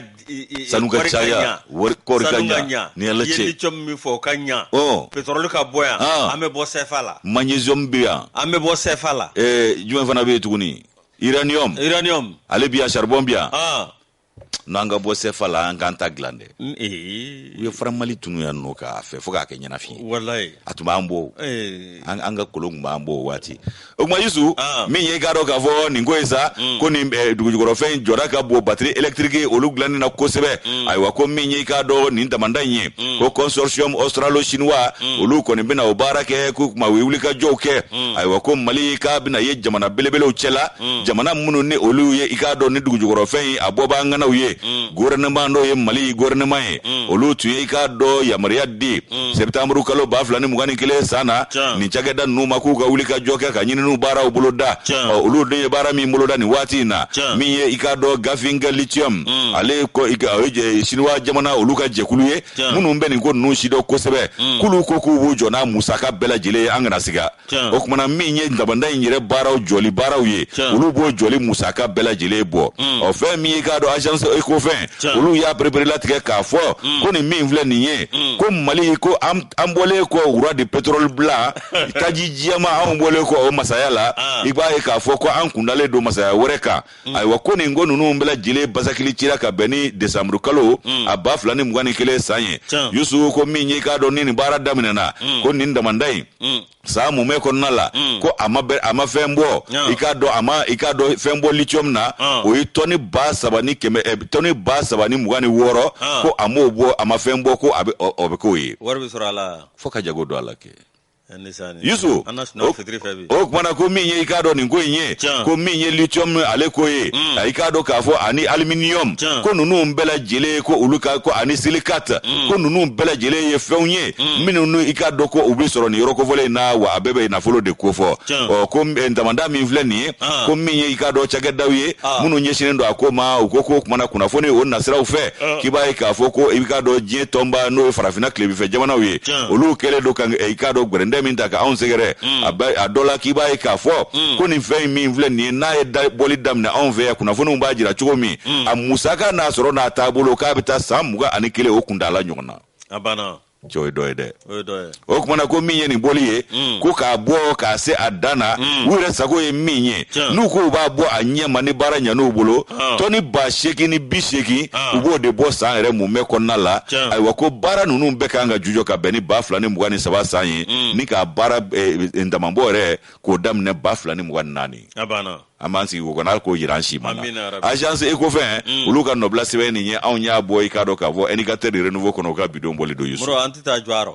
sanu ka caya wari kɔɔri ka ɲa ni ala cɛ lithium min fɔ o ka ɲa ɔ pétrole ka bɔ yan an bɛ bɔ CFA la magnesium bɛ yan an bɛ bɔ CFA la ɛɛ jumɛn fana bɛ yen tuguni uranium uranium ale bi yan charbon bi yan n'an ka bɔ sɛfa la an k'an ta dilan dɛ u ye franc malien tunun yan nɔ k'a fɛ fo k'a kɛ ɲɛnafin ye a tun b'an bɔ an ka kolon tun b'an bɔ o waati o tuma yusu ah. min ye i k'a dɔn k'a fɔ nin ko ye sa mm. ko nin eh, dugujukɔrɔfɛn jɔda ka bon batiri elektiriki olu dilannen na kosɛbɛ mm. ayiwa ko min ye i k'a dɔn nin damanda in ye mm. ko consortium australo chinois olu kɔni bɛna o baara kɛ k'o tuma u ye wulikajɔw kɛ ayiwa ko mali k'a bɛna ye jamana belebelew cɛla mm. jamana minnu ni olu ye i k'a dɔn nin dugujukɔrɔfɛn ye a bɔba ŋanaw ye mm. gouvernement n'o ye mali gouvernement ye mm. olu tun ye i k'a dɔn yamaruya di mm. septembre kalo ba fila ni mugan ni kelen san na nin cakɛda ninnu ma k'u ka wulikajɔ kɛ ka ɲininiw baaraw boloda olu de ye baara min boloda nin waati in na min ye i k'a dɔn ganfeng lithium mm. ale o ye siniwa jamana olu ka jɛkulu ye minnu bɛ nin ko ninnu sidɔn kosɛbɛ mm. k'olu ko k'u b'u jɔ n'a musaka bɛɛ lajɛlen ye an kana siga o tuma na min ye damanda in yɛrɛ baaraw jɔli baaraw ye olu b'o jɔli musaka bɛɛ lajɛlen bɔ mm. ɔ fɛn min ye i k'a dɔn agence ecofin olu y'a pereperelatigɛ k'a fɔ mm. ko nin min filɛ nin ye mm. ko mali ko an bɔlen kɔ roi de pétrole blanc taji jɛman anw bɔlen kɔ o masaya la ah. i b'a ye k'a fɔ ko an kundalen don masaya wɛrɛ kan mm. ayiwa ko nin ko ninnu bɛɛ lajɛlen basakili cira ka bɛn ni desanburu kalo mm. a ba fila ni mugan ni kelen san ye yusufu ko min ye k'a dɔn ni nin baara daminɛna mm. ko nin damanda in mm. san mumɛ kɔnɔna la mm. ko a ma bɛ a ma fɛn bɔ i k'a dɔn a ma i k'a dɔn fɛn bɔ lithium na ah. o ye tɔni ba saba ni kɛmɛ eh, tɔni ba saba ni mugan ni wɔɔrɔ ah. ko a m'o bɔ a ma fɛn bɔ ko a bɛ o bɛ k'o ye wari bɛ sɔrɔ a la fo ka jago don a la kɛ yusu o kumana ko min ye i k'a dɔn nin ko in ye ko min ye lithium ale ko ye mm. i k'a dɔn k'a fɔ ani aluminium ko ninnu bɛɛ lajɛlen ko olu ka ko ani silicate mm. ko ninnu bɛɛ lajɛlen ye fɛnw ye mm. minnu n'u i k'a dɔn ko u bɛ sɔrɔ nin yɔrɔ kofɔlen in na wa a bɛɛ bɛ nafolo de ko fɔ ɔ ko eh, damanda min filɛ nin ye ah. ko min ye i k'a dɔn cakɛdaw ye ah. minnu ɲɛsinnen don a ko ma u ko k'o kumana kunnafoni o nasiraw fɛ ah. k'i b'a ye k'a fɔ ko i k'a dɔn diɲɛ tɔnba n'o ye farafinna tilebifɛ jamanaw ye olu kɛlen don ka i k'a dɔn gwɛrɛndɛ min ta ka anw sɛgɛrɛ mm. a dɔ la k'i b'a ye k'a fɔ mm. ko nin fɛn in min filɛ nin ye n'a ye bɔli daminɛ anw fɛ yan kunnafoniw b'a jira cogo min mm. a musaka n'a sɔrɔ n'a taabolo k'a bɛ taa san mugan ani kelen o kuntaala ɲɔgɔn na cɛ o ye dɔ ye dɛ o kumana ko min ye nin bɔli ye mm. ko k'a bɔ k'a se a dan na mm. u yɛrɛ sago ye min ye n'u k'u b'a bɔ a ɲɛ ma ni baara ɲan'u bolo ah. tɔni ba seegin ni bi seegin ah. u b'o de bɔ san yɛrɛ mumɛ kɔnɔna la ayiwa ko baara ninnu bɛɛ kan ka jujɔ ka bɛn ni ba fila ni mugan ni saba san ye mm. ni k'a baara eh, eh, ndamabɔ yɛrɛ k'o daminɛ ba fila ni mugan ni naani an b'an sigi k'o kɔnɔ k'o jira an si ma na agence ecofin mm. olu ka nɔbila sɛbɛn nin ye anw y'a bɔ i k'a dɔn k'a fɔ indicateur de renouveau kɔnɔ u ka bi don bɔli don yusu an tɛ taa jɔ a rɔ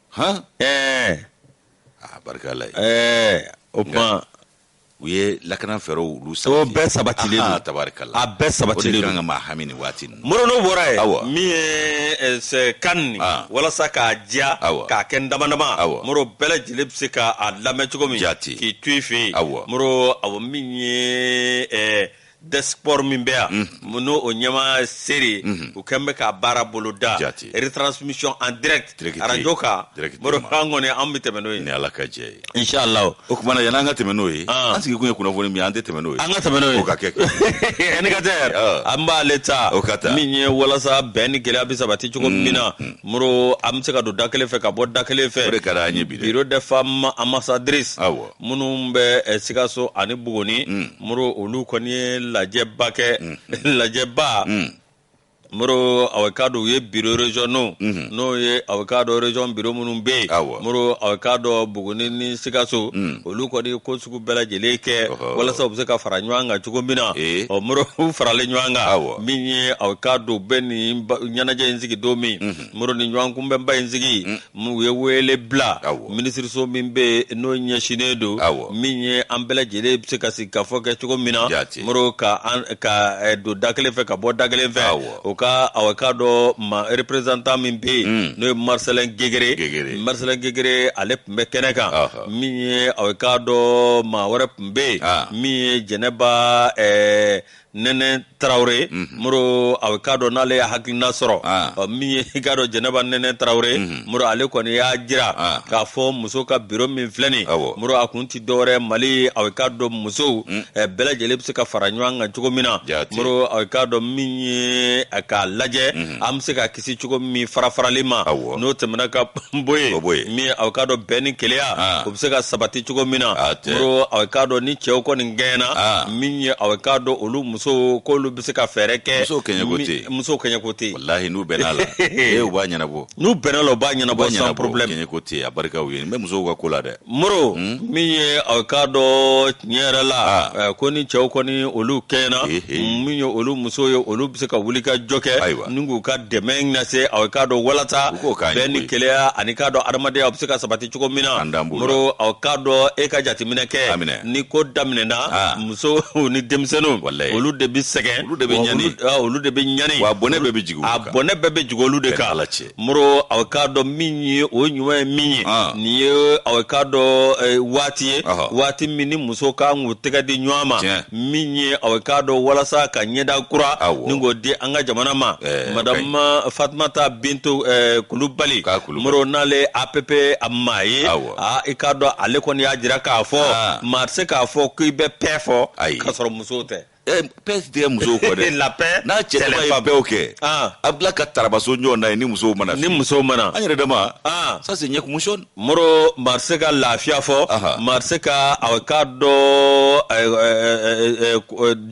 han ɛɛ a barika la ye ɛɛ o tuma u ye lakana fɛɛrɛw olu sabati o bɛɛ sabatilen don. Ahaa, tabarikala A bɛɛ sabatilen o de don. kan ka maa hami nin waati nin na. moro n'o bɔra ye Awa. min ye eh, sɛ- kan nin Ah. walasa k'a diya Awa. k'a kɛ n dama dama Awa. moro bɛɛ lajɛlen bɛ se k'a lamɛn cogo min Jate. k'i to i fɛ yen Awa. moro awa min ye eh, desk sport min bɛ yan n'o o ɲɛmaa seere u kɛlen bɛ ka baara boloda retransmission en direct radio kan baro kan kɔni an bɛ tɛmɛ n'o ye ni ala ka jɛn ye inshallah o kumana yani an ka tɛmɛ n'o ye an sigi kun ye kunnafoni min ye an tɛ tɛmɛ n'o ye an ka tɛmɛ n'o ye o ka kɛ ani ka tɛ an b'ale ta o ka taa min ye walasa bɛn ni kelenya bɛ sabati cogo min na moro an bɛ se ka don da kelen fɛ ka bɔ da kelen fɛ o de ka d'an ye bi dɛ biro des femmes ambassadrices awɔ minnu bɛ eh, sikaso ani bugoni mm. moro olu kɔni ye lajɛba kɛ mm. lajɛba mm. moro aw k'a dɔn u ye biro régionaux mm-hmm. n'o ye aw k'a dɔn region biro minnu bɛ yen moro aw k'a dɔn bugoni ni sikaso olu kɔni ye ko sugu bɛɛ lajɛlen kɛ walasa u bɛ se ka fara ɲɔgɔn kan cogo min na eh. ɔ moro u faralen ɲɔgɔn kan min ye aw k'a dɔn bɛ nin ɲɛnajɛ in sigi don min mm-hmm. moro ni ɲɔgɔn kunbɛnba in sigi U ye wele bila minisiriso min bɛ yen n'o ɲɛsinnen don min ye an bɛɛ lajɛlen bɛ se ka sigikafɔ kɛ cogo min na moro ka don da kelen fɛ ka bɔ da kelen fɛ o ka aw k'a dɔn maa représentant min bɛ yen n'o ye marisɛlɛn gengere marisɛlɛn gengere ale tun bɛ kɛnɛ kan min ye aw k'a dɔn maa wɛrɛ tun bɛ yen min ye jɛnɛba nɛnɛ tarawele moro aw k'a dɔn n'ale y'a hakilina sɔrɔ Ah. ɔ, min ye i k'a dɔn jɛnɛba nɛnɛ tarawele moro ale kɔni y'a jira Ah. k'a fɔ muso ka biro min filɛ nin Awɔ. moro a kun ti dɔwɛrɛ mali aw k'a dɔn musow eh, bɛɛ lajɛlen bɛ se ka fara ɲɔgɔn kan cogo min na Jaati. moro aw k'a dɔn min ye eh, k'a lajɛ an bɛ se ka kisi cogo min farafarali ma n'o tɛmɛna ka bɔ yen min ye aw k'a dɔn bɛn ni kelenya o bɛ se ka sabati cogo min na aw k'a dɔn ni cɛw kɔni kɛɲɛna min ye aw k'a dɔn olu muso ko olu bɛ se ka fɛɛrɛ kɛ musow kɛɲɛko tɛ yen walayi n'u bɛnn'a la u b'a ɲɛnabɔ n'u bɛnn'a la u b'a ɲɛnabɔ ɲɛnabɔ a barika yɛrɛ bɛ musow ka ko la dɛ Moro min ye a k'a dɔn tiɲɛ yɛrɛ la, an, ɛ ko ni cɛw kɔni olu kɛɲɛna, he he, min ye olu musow ye olu bɛ se ka wulikajɔ kɛ, ayiwa, ni k'u ka dɛmɛ lase a k'a dɔn walasa, u k'o k'an ye koyi, bɛn ni kelenya ani k'a dɔn adamadenya o bɛ se ka sabati cogo min na, an daan b'o la, Moro a k'a dɔn e ka jateminɛ kɛ, a minɛ, ni ko daminɛna, a, musow ni denmisɛnninw, walahi, olu de bɛ sɛgɛn, olu de bɛ ɲani, olu de bɛ ɲani, wa a bɔnɛ bɛɛ bɛ jigin olu de kan, a bɔnɛ bɛɛ bɛ jigin olu de kan, an ni Ala cɛ. moro aw k'a dɔn min ye o ɲuman ye min ye ah. nin ye aw k'a dɔn eh, waati ye waati min ni musow ka kan k'u tɛgɛ di ɲɔgɔn ma min ye aw k'a dɔn walasa ka ɲɛda kura ni k'o di an ka jamana ma eh, madamu eh, fatumata bintu kulubali moro n'ale app a maa ye ah, i k'a dɔn ale kɔni y'a jira k'a fɔ ah. maa tɛ se k'a fɔ k'i bɛ paix fɔ k'a sɔrɔ muso tɛ Eh, paix si tɛ musow kɔ dɛ la paix n'a cɛ dama ye bɛn kɛ ah. a bila ka tarabaso ɲɔgɔn na ye ni musow ma na ni musow ma na an yɛrɛ dama ah. ça c'est ɲɛkumusɔn moro maa tɛ se ka lafiya fɔ maa tɛ se ka aw k'a dɔn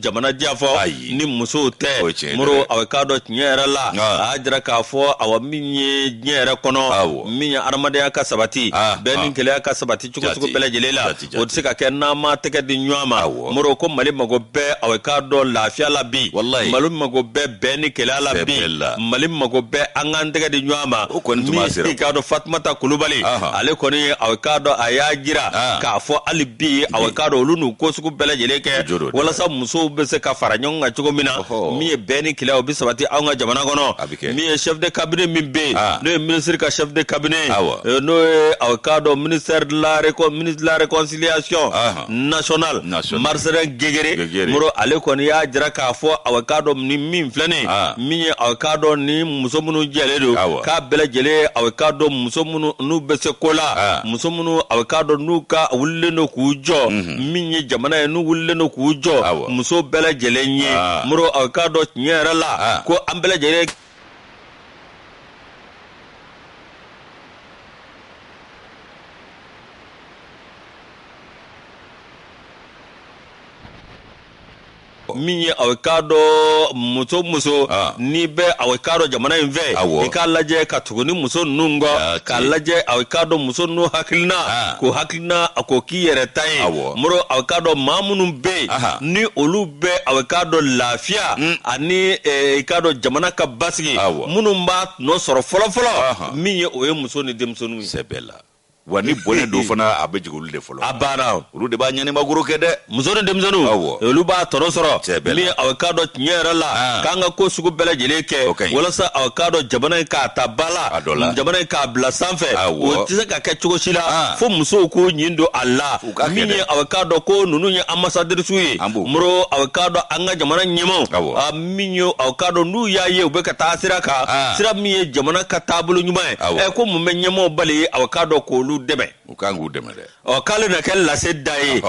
jamana diya fɔ ni musow tɛ moro aw k'a dɔn tiɲɛ yɛrɛ la ah. a jira k'a fɔ awa min ye diɲɛ yɛrɛ kɔnɔ min ye adamadenya ka sabati bɛn ni kelenya ka sabati cogo cogo bɛɛ lajɛlen la o tɛ se ka kɛ n'an ma tɛgɛ di ɲɔgɔn ma moro ko mali mago bɛ aw k'a dɔn lafiya la bi mali mago bɛ bɛn ni kelenya la bi mali mago bɛ an ka tɛgɛ di ɲɔgɔn ma min ye i k'a dɔn fatumata kulubali ale kɔni aw k'a dɔn a y'a jira k'a fɔ hali bi aw k'a dɔn olu n'o ko sugu bɛɛ lajɛlen kɛ walasa musow bɛ se ka fara ɲɔgɔn kan cogo min na min ye bɛn ni kelenya o bɛ sabati an ka jamana kɔnɔ kɛ. min ye chef de cabinet min bɛ yen Ah. n'o ye ministre ka chef de cabinet ye Awɔ. eh, n'o ye aw k'a dɔn ministère de la récon- ministre de la réconciliation Ahan. nationale Nationale. Marcelin Guenguéré Guenguéré. Moro ale kɔni y'a jira k'a fɔ aw k'a dɔn ni min filɛ nin ye Ah. min ye aw k'a dɔn ni muso minnu jɛlen don Awɔ. k'a bɛɛ lajɛlen ye aw k'a dɔn muso minnu n'u bɛ se ko la Ah. muso minnu aw k'a dɔn n'u ka wulilen don k'u jɔ min ye jamana ye n'u wulilen don k'u jɔ muso bɛɛ lajɛlen ye moro aw k'a dɔn tiɲɛ yɛrɛ la ko an bɛɛ lajɛlen min ye aw k'a dɔn muso muso ah. n'i bɛ aw k'a dɔn jamana in fɛ i k'a lajɛ ka tugu ni muso ninnu kɔ k'a lajɛ aw k'a dɔn muso ninnu hakilina ah. ko hakilina a k'o k'i yɛrɛ ta ye moro aw k'a dɔn maa minnu bɛ yen ni olu bɛ aw k'a dɔn lafiya hmm. ani eh, i k'a dɔn jamana ka basigi minnu b'a tɔnɔ sɔrɔ fɔlɔfɔlɔ min ye o ye muso ni denmisɛnninw ye wa ni bɔnɛ don fana a bɛ jigin olu de fɔlɔ a banna olu de b'a ɲɛnimagoro kɛ dɛ muso ni denmisɛnninw awɔ olu b'a tɔnɔ sɔrɔ min ye aw k'a dɔn tiɲɛ yɛrɛ la ah. k'an ka ko sugu bɛɛ lajɛlen kɛ walasa aw k'a dɔn jamana in k'a ta ba la jamana in k'a bila sanfɛ o tɛ se ka kɛ cogo si la ah. fo musow k'u ɲin don a la min ye aw k'a dɔn ko ninnu ye anbasadirisiw ye moro aw k'a dɔn an ka jamana ɲɛmaaw min ye aw k'a dɔn n'u y'a ye u bɛ ka taa sira kan ah. sira min ye jamana ka taabolo ɲuman ye ɛ eh, ko mun bɛ ɲɛmɔgɔ bali ye aw k'a dɔn k'olu dɛmɛ u kan k'u dɛmɛ dɛ ɔ k'ale na kɛ lase da ye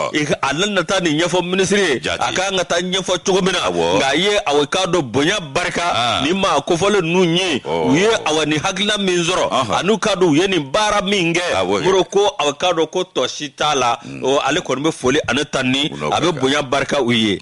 a na taa nin ɲɛfɔ minisiri ye a ka kan ka taa ɲɛfɔ cogo min na nka a ye aw k'a dɔn bonya barika ah. ni maa kofɔlen ninnu ye oh. u ye awa ni hakilina min sɔrɔ an'aw k'a dɔn u ye nin baara min kɛ moro ko aw k'a dɔn ko tɔ si t'a la hmm. ale kɔni bɛ foli ani tanuni a bɛ bonya barika u ye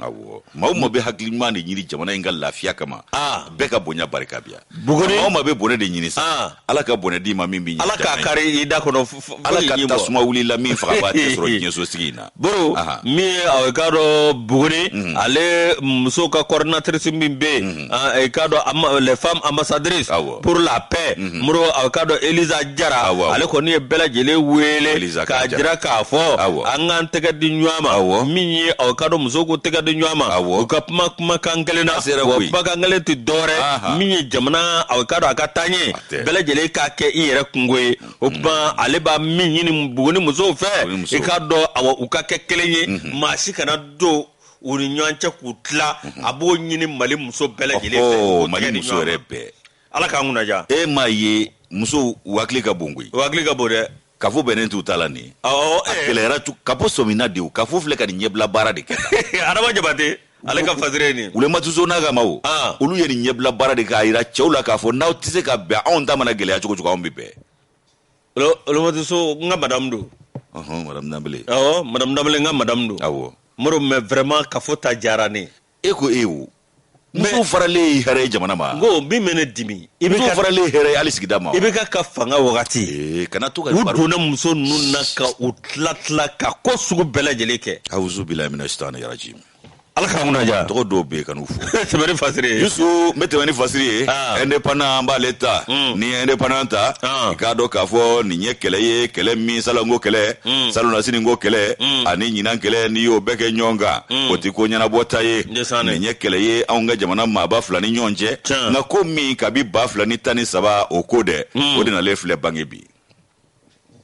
maa o maa bɛ hakili ɲuman de ɲini jamana in ka lafiya kama ah. bɛɛ ka bonya barika b'i ye maa o maa bɛ bɔnɛ de ɲini sa ah. ala ka bɔnɛ d'i ma min bɛ ala k'a kari i da kɔnɔ ala ka tasuma wuli i la min fagabaa tɛ sɔrɔ diɲɛsosigi in na boro min ye aw k'a dɔn buguni mhm. ale musow ka coordinatrice min bɛ yen mhm. ah, i k'a dɔn les femmes ambassadrices pour la paix mhm. muru aw k'a dɔn Elisa Jara ale kɔni ye bɛɛ lajɛlen wele k'a jira k'a fɔ an k'an tɛgɛ di ɲɔgɔn ma min ye aw k'a dɔn musow k'u tɛgɛ di ɲɔgɔn ma u ka kuma kumakan kelen na wa kumakan kelen tɛ dɔwɛrɛ min ye jamana aw k'a dɔn a ka taaɲɛ bɛɛ lajɛlen k'a kɛ i yɛrɛ kunko ye o mhm. tuma ale b'a min ɲini buguni musow fɛ i k'a dɔn u ka kɛ kelen ye mhm. maa si kana don u ni ɲɔgɔn cɛ k'u tila mhm. a b'o ɲini mali muso bɛɛ lajɛlen fɛ mali muso yɛrɛ bɛɛ ala k'an kunna diya e m'a ye musow u hakili ka bon koyi u hakili ka bon dɛ kafo bɛnnen t'u ta la nin a eh. kɛlɛyara kafo sɔmina de o kafo filɛ ka nin ɲɛbila baara de kɛ adama jabate ale ka fasiri nin wulematu so n'a ka maw ah. olu ye nin ɲɛbila baara de k'a yira cɛw la k'a fɔ n'aw tɛ se ka bɛn anw ta mana gɛlɛya cogo o cogo anw bɛ bɛn Wulematu so n ka madamu don ɔ madamu danbele n ka madamu don aw mori mais vraiment kafo ta diyara ne ye ko e wo muso faralen hɛrɛ jamana ma ko min bɛ ne dimi i bɛ faralen hɛrɛ hali sigida ma IBK ka fanga wagati kana to ka don ne muso ninnu na ka u tila tila ka ko sugu bɛɛ lajɛlen kɛ a bɛ taa ni yɛrɛji ala ka mun ja tɔgɔ dɔw bɛ kanu fo tɛmɛ ni fasiri ye yusu n bɛ tɛmɛ ni fasiri ye ah. indépendant an b'ale ta hmm. ni indépendant ta ah. i k'a dɔn k'a fɔ nin ye kɛlɛ ye kɛlɛ min salon ko kɛlɛ hmm. salonasini ko kɛlɛ hmm. ani ɲinan kɛlɛ n'i y'o bɛɛ kɛ ɲɔgɔn kan o tɛ ko ɲɛnabɔta ye nin ye kɛlɛ ye anw ka jamana maaba fila ni ɲɔgɔn cɛ nka ko min kabi ba fila ni tan ni saba o ko dɛ o de nalen filɛ bange bi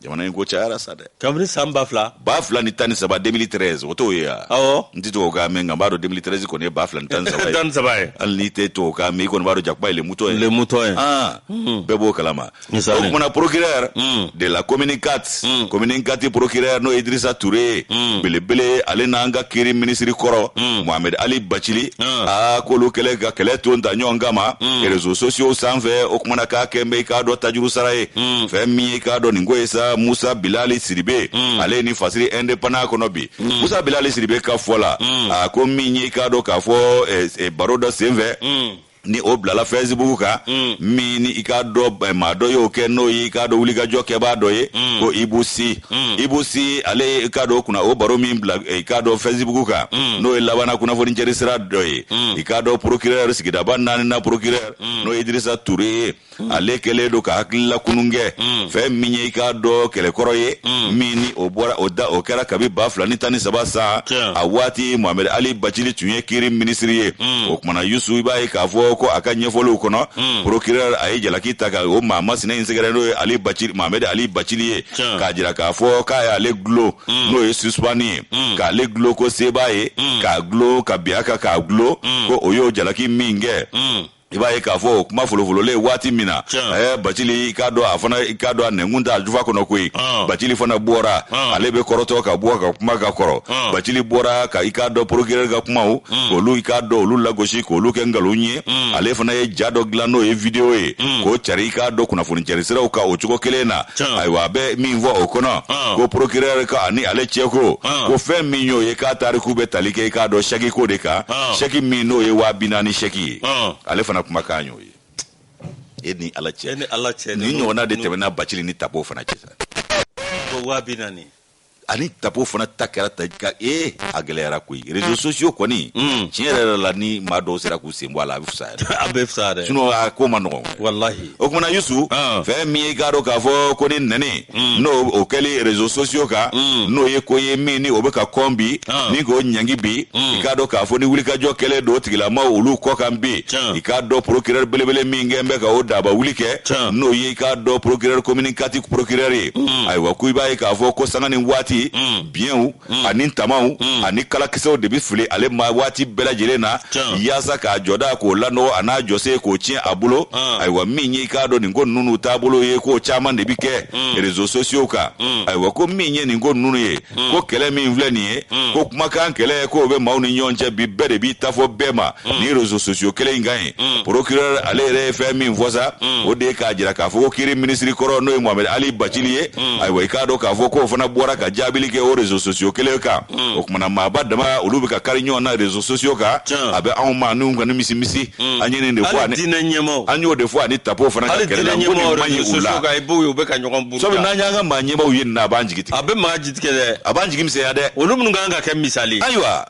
jamana in ko cayara sa dɛ kabini san ba fila ba fila ni tan ni saba 2013 o t'o ye a awɔ n tɛ tubabu kan mɛn nka n b'a dɔn 2013 kɔni ye ba fila ni tan ni saba ye tan ni saba ye hali n'i tɛ tubabu kan mɛn i kɔni b'a dɔn jakuba ye le mouton ye le mouton ye Ah, bɛɛ b'o kalama o Misali. kumana procureur de la commune 4 commune 4 procureur n'o ye idrissa toure belebele ale n'an ka kiri minisiri kɔrɔ mohamed ali bacili a k'olu kɛlen ka kɛlɛ ton ta ɲɔgɔn kama réseaux sociaux sanfɛ o kumana k'a kɛlen bɛ i k'a dɔ tajuru sara ye mm. fɛn min ye i k'a dɔn nin ko ye sa musa bilali siribe mm. ale ye nin fasiri indépendant kɔnɔ bi mm. musa bilali siribe ka fɔ la mm. a ko min ye i k'a dɔn k'a fɔ eh, eh, baro dɔ sen fɛ mm. ni o bilala fɛsibugu kan mm. min ni i k'a dɔ eh, maa dɔ y'o kɛ n'o ye i k'a dɔ wulikajɔ kɛbaa dɔ ye mm. ko ibu si mm. ibu si ale ye i k'a dɔ kunna o baro min bila eh, i k'a dɔ fɛsibugu kan mm. n'o ye labanna kunnafonijɛri sira dɔ ye mm. i k'a dɔ procureur sigidaba naanina procureur mm. n'o ye idirisa ture ye mm. ale kɛlen don ka hakili lakunun kɛ mm. fɛn min ye i k'a dɔ kɛlɛ kɔrɔ ye mm. min ni o bɔra o da o kɛra kabi ba fila ni tan ni saba sa a waati mohamɛd ali bacili tun ye kiri minisiri ye mm. o kumana yusu i b'a ye k'a fɔ ko a ka ɲɛfɔliw kɔnɔ mm. procureur a ye jalaki ta ka o maa masina in sɛgɛrɛ n'o ye ali bacili mohamɛd ali bacili ye k'a jira k'a fɔ k'a y'ale gulo mm. n'o ye suspendu ye mm. k'ale gulo ko sebaa ye mm. k'a gulo ka bin a kan k'a gulo mm. ko o y'o jalaki min kɛ mm. i b'a ye k'a fɔ o kuma folofololen waati min na eh, bacili i k'a dɔn a fana i k'a dɔn a nɛnkun t'a jufa kɔnɔ koyi ah. bacili fana bɔra ah. ale bɛ kɔrɔtɔ ka bɔ ka kuma ka kɔrɔ ah. bacili bɔra ka i k'a dɔn porokirɛri ka kumaw hmm. olu i k'a dɔn olu lagosi k'olu kɛ nkalon ye hmm. ale fana ye ja dɔ dilan n'o ye videyo ye hmm. k'o cari i k'a dɔn kunnafoni cari siraw kan o cogo kelen na ayiwa a bɛ min fɔ o kɔnɔ ko porokirɛri k'a ni ale cɛko ko fɛn min y'o ye k'a tariku bɛ tali kɛ i k'a dɔn sɛkiko de kan sɛki min n'o ye waa bi naani sɛki ye ale fana kumakan y'o ye e ni ala cɛ ni ala cɛ nin ɲɔgɔnna de tɛmɛna bacili ni tapo fana cɛ waa bi naani ani tapo fana ta kɛra ta ka e a gɛlɛyara koyi réseaux sociaux kɔni tiɲɛ yɛrɛ la ni maa dɔw sera k'u sen bɔ a la a bɛ fisaya a bɛ fisaya dɛ sinon a ko man nɔgɔn walahi o tumana yusu ah. fɛn min ye i k'a dɔn k'a fɔ ko ni nɛni hmm. n'o kɛli rezo sosiyo kan hmm. n'o ye ko ye min ni o bɛ ka kɔn bi ah. ni k'o ɲangi bi hmm. i k'a dɔn k'a fɔ ni wulikajɔ kɛlen don tigilamaw olu kɔ kan bi i k'a dɔn porokirɛri belebele min kɛn bɛ ka o daba wuli kɛ n'o ye i k'a dɔn porokirɛri komini kati porokirɛri ye ayiwa ko i b'a ye k'a fɔ ko sanga ni waati biɲɛw mm. ani tamaw mm. ani kalakisɛw de bɛ fili ale ma waati bɛɛ lajɛlen na yaasa k'a jɔda k'o lanɔgɔ an'a jɔsen k'o tiɲɛ a bolo ah. ayiwa min ye i k'a dɔn nin ko ninnu taabolo ye k'o caman de bɛ kɛ mm. rezo sosiyo kan mm. ayiwa ko min ye nin ko ninnu ye mm. ko kɛlɛ min filɛ nin ye mm. ko kumakan kɛlɛ k'o bɛ maaw ni ɲɔgɔn cɛ bi bɛɛ de b'i ta fɔ bɛɛ ma mm. ni rezo sosiyo kelen in kan ye Mm. procureur ale yɛrɛ ye fɛn min fɔ sa mm. o de ye k'a jira k'a fɔ ko kiri minisiri kɔrɔ n'o ye mohamed ali bacili ye mm. ayiwa i k'a dɔn k'a fɔ k'o fana bɔra ka jaabili kɛ o réseau sociaux kelen kan o kumana maaba dama olu bɛ ka kari ɲɔgɔn na réseau sociaux kan a bɛ anw ma n'u kɔni misi misi an ye nin de fɔ ani an y'o de fɔ ani tapo fana ka kɛlɛ la ko nin man ɲi u la sabu n'an y'an ka maa ɲɛmaaw ye nin na a b'an jigi tigɛ a bɛ maa jigi tigɛ dɛ a b'an jigi misɛnya dɛ olu minnu ka kan ka kɛ misali ayiwa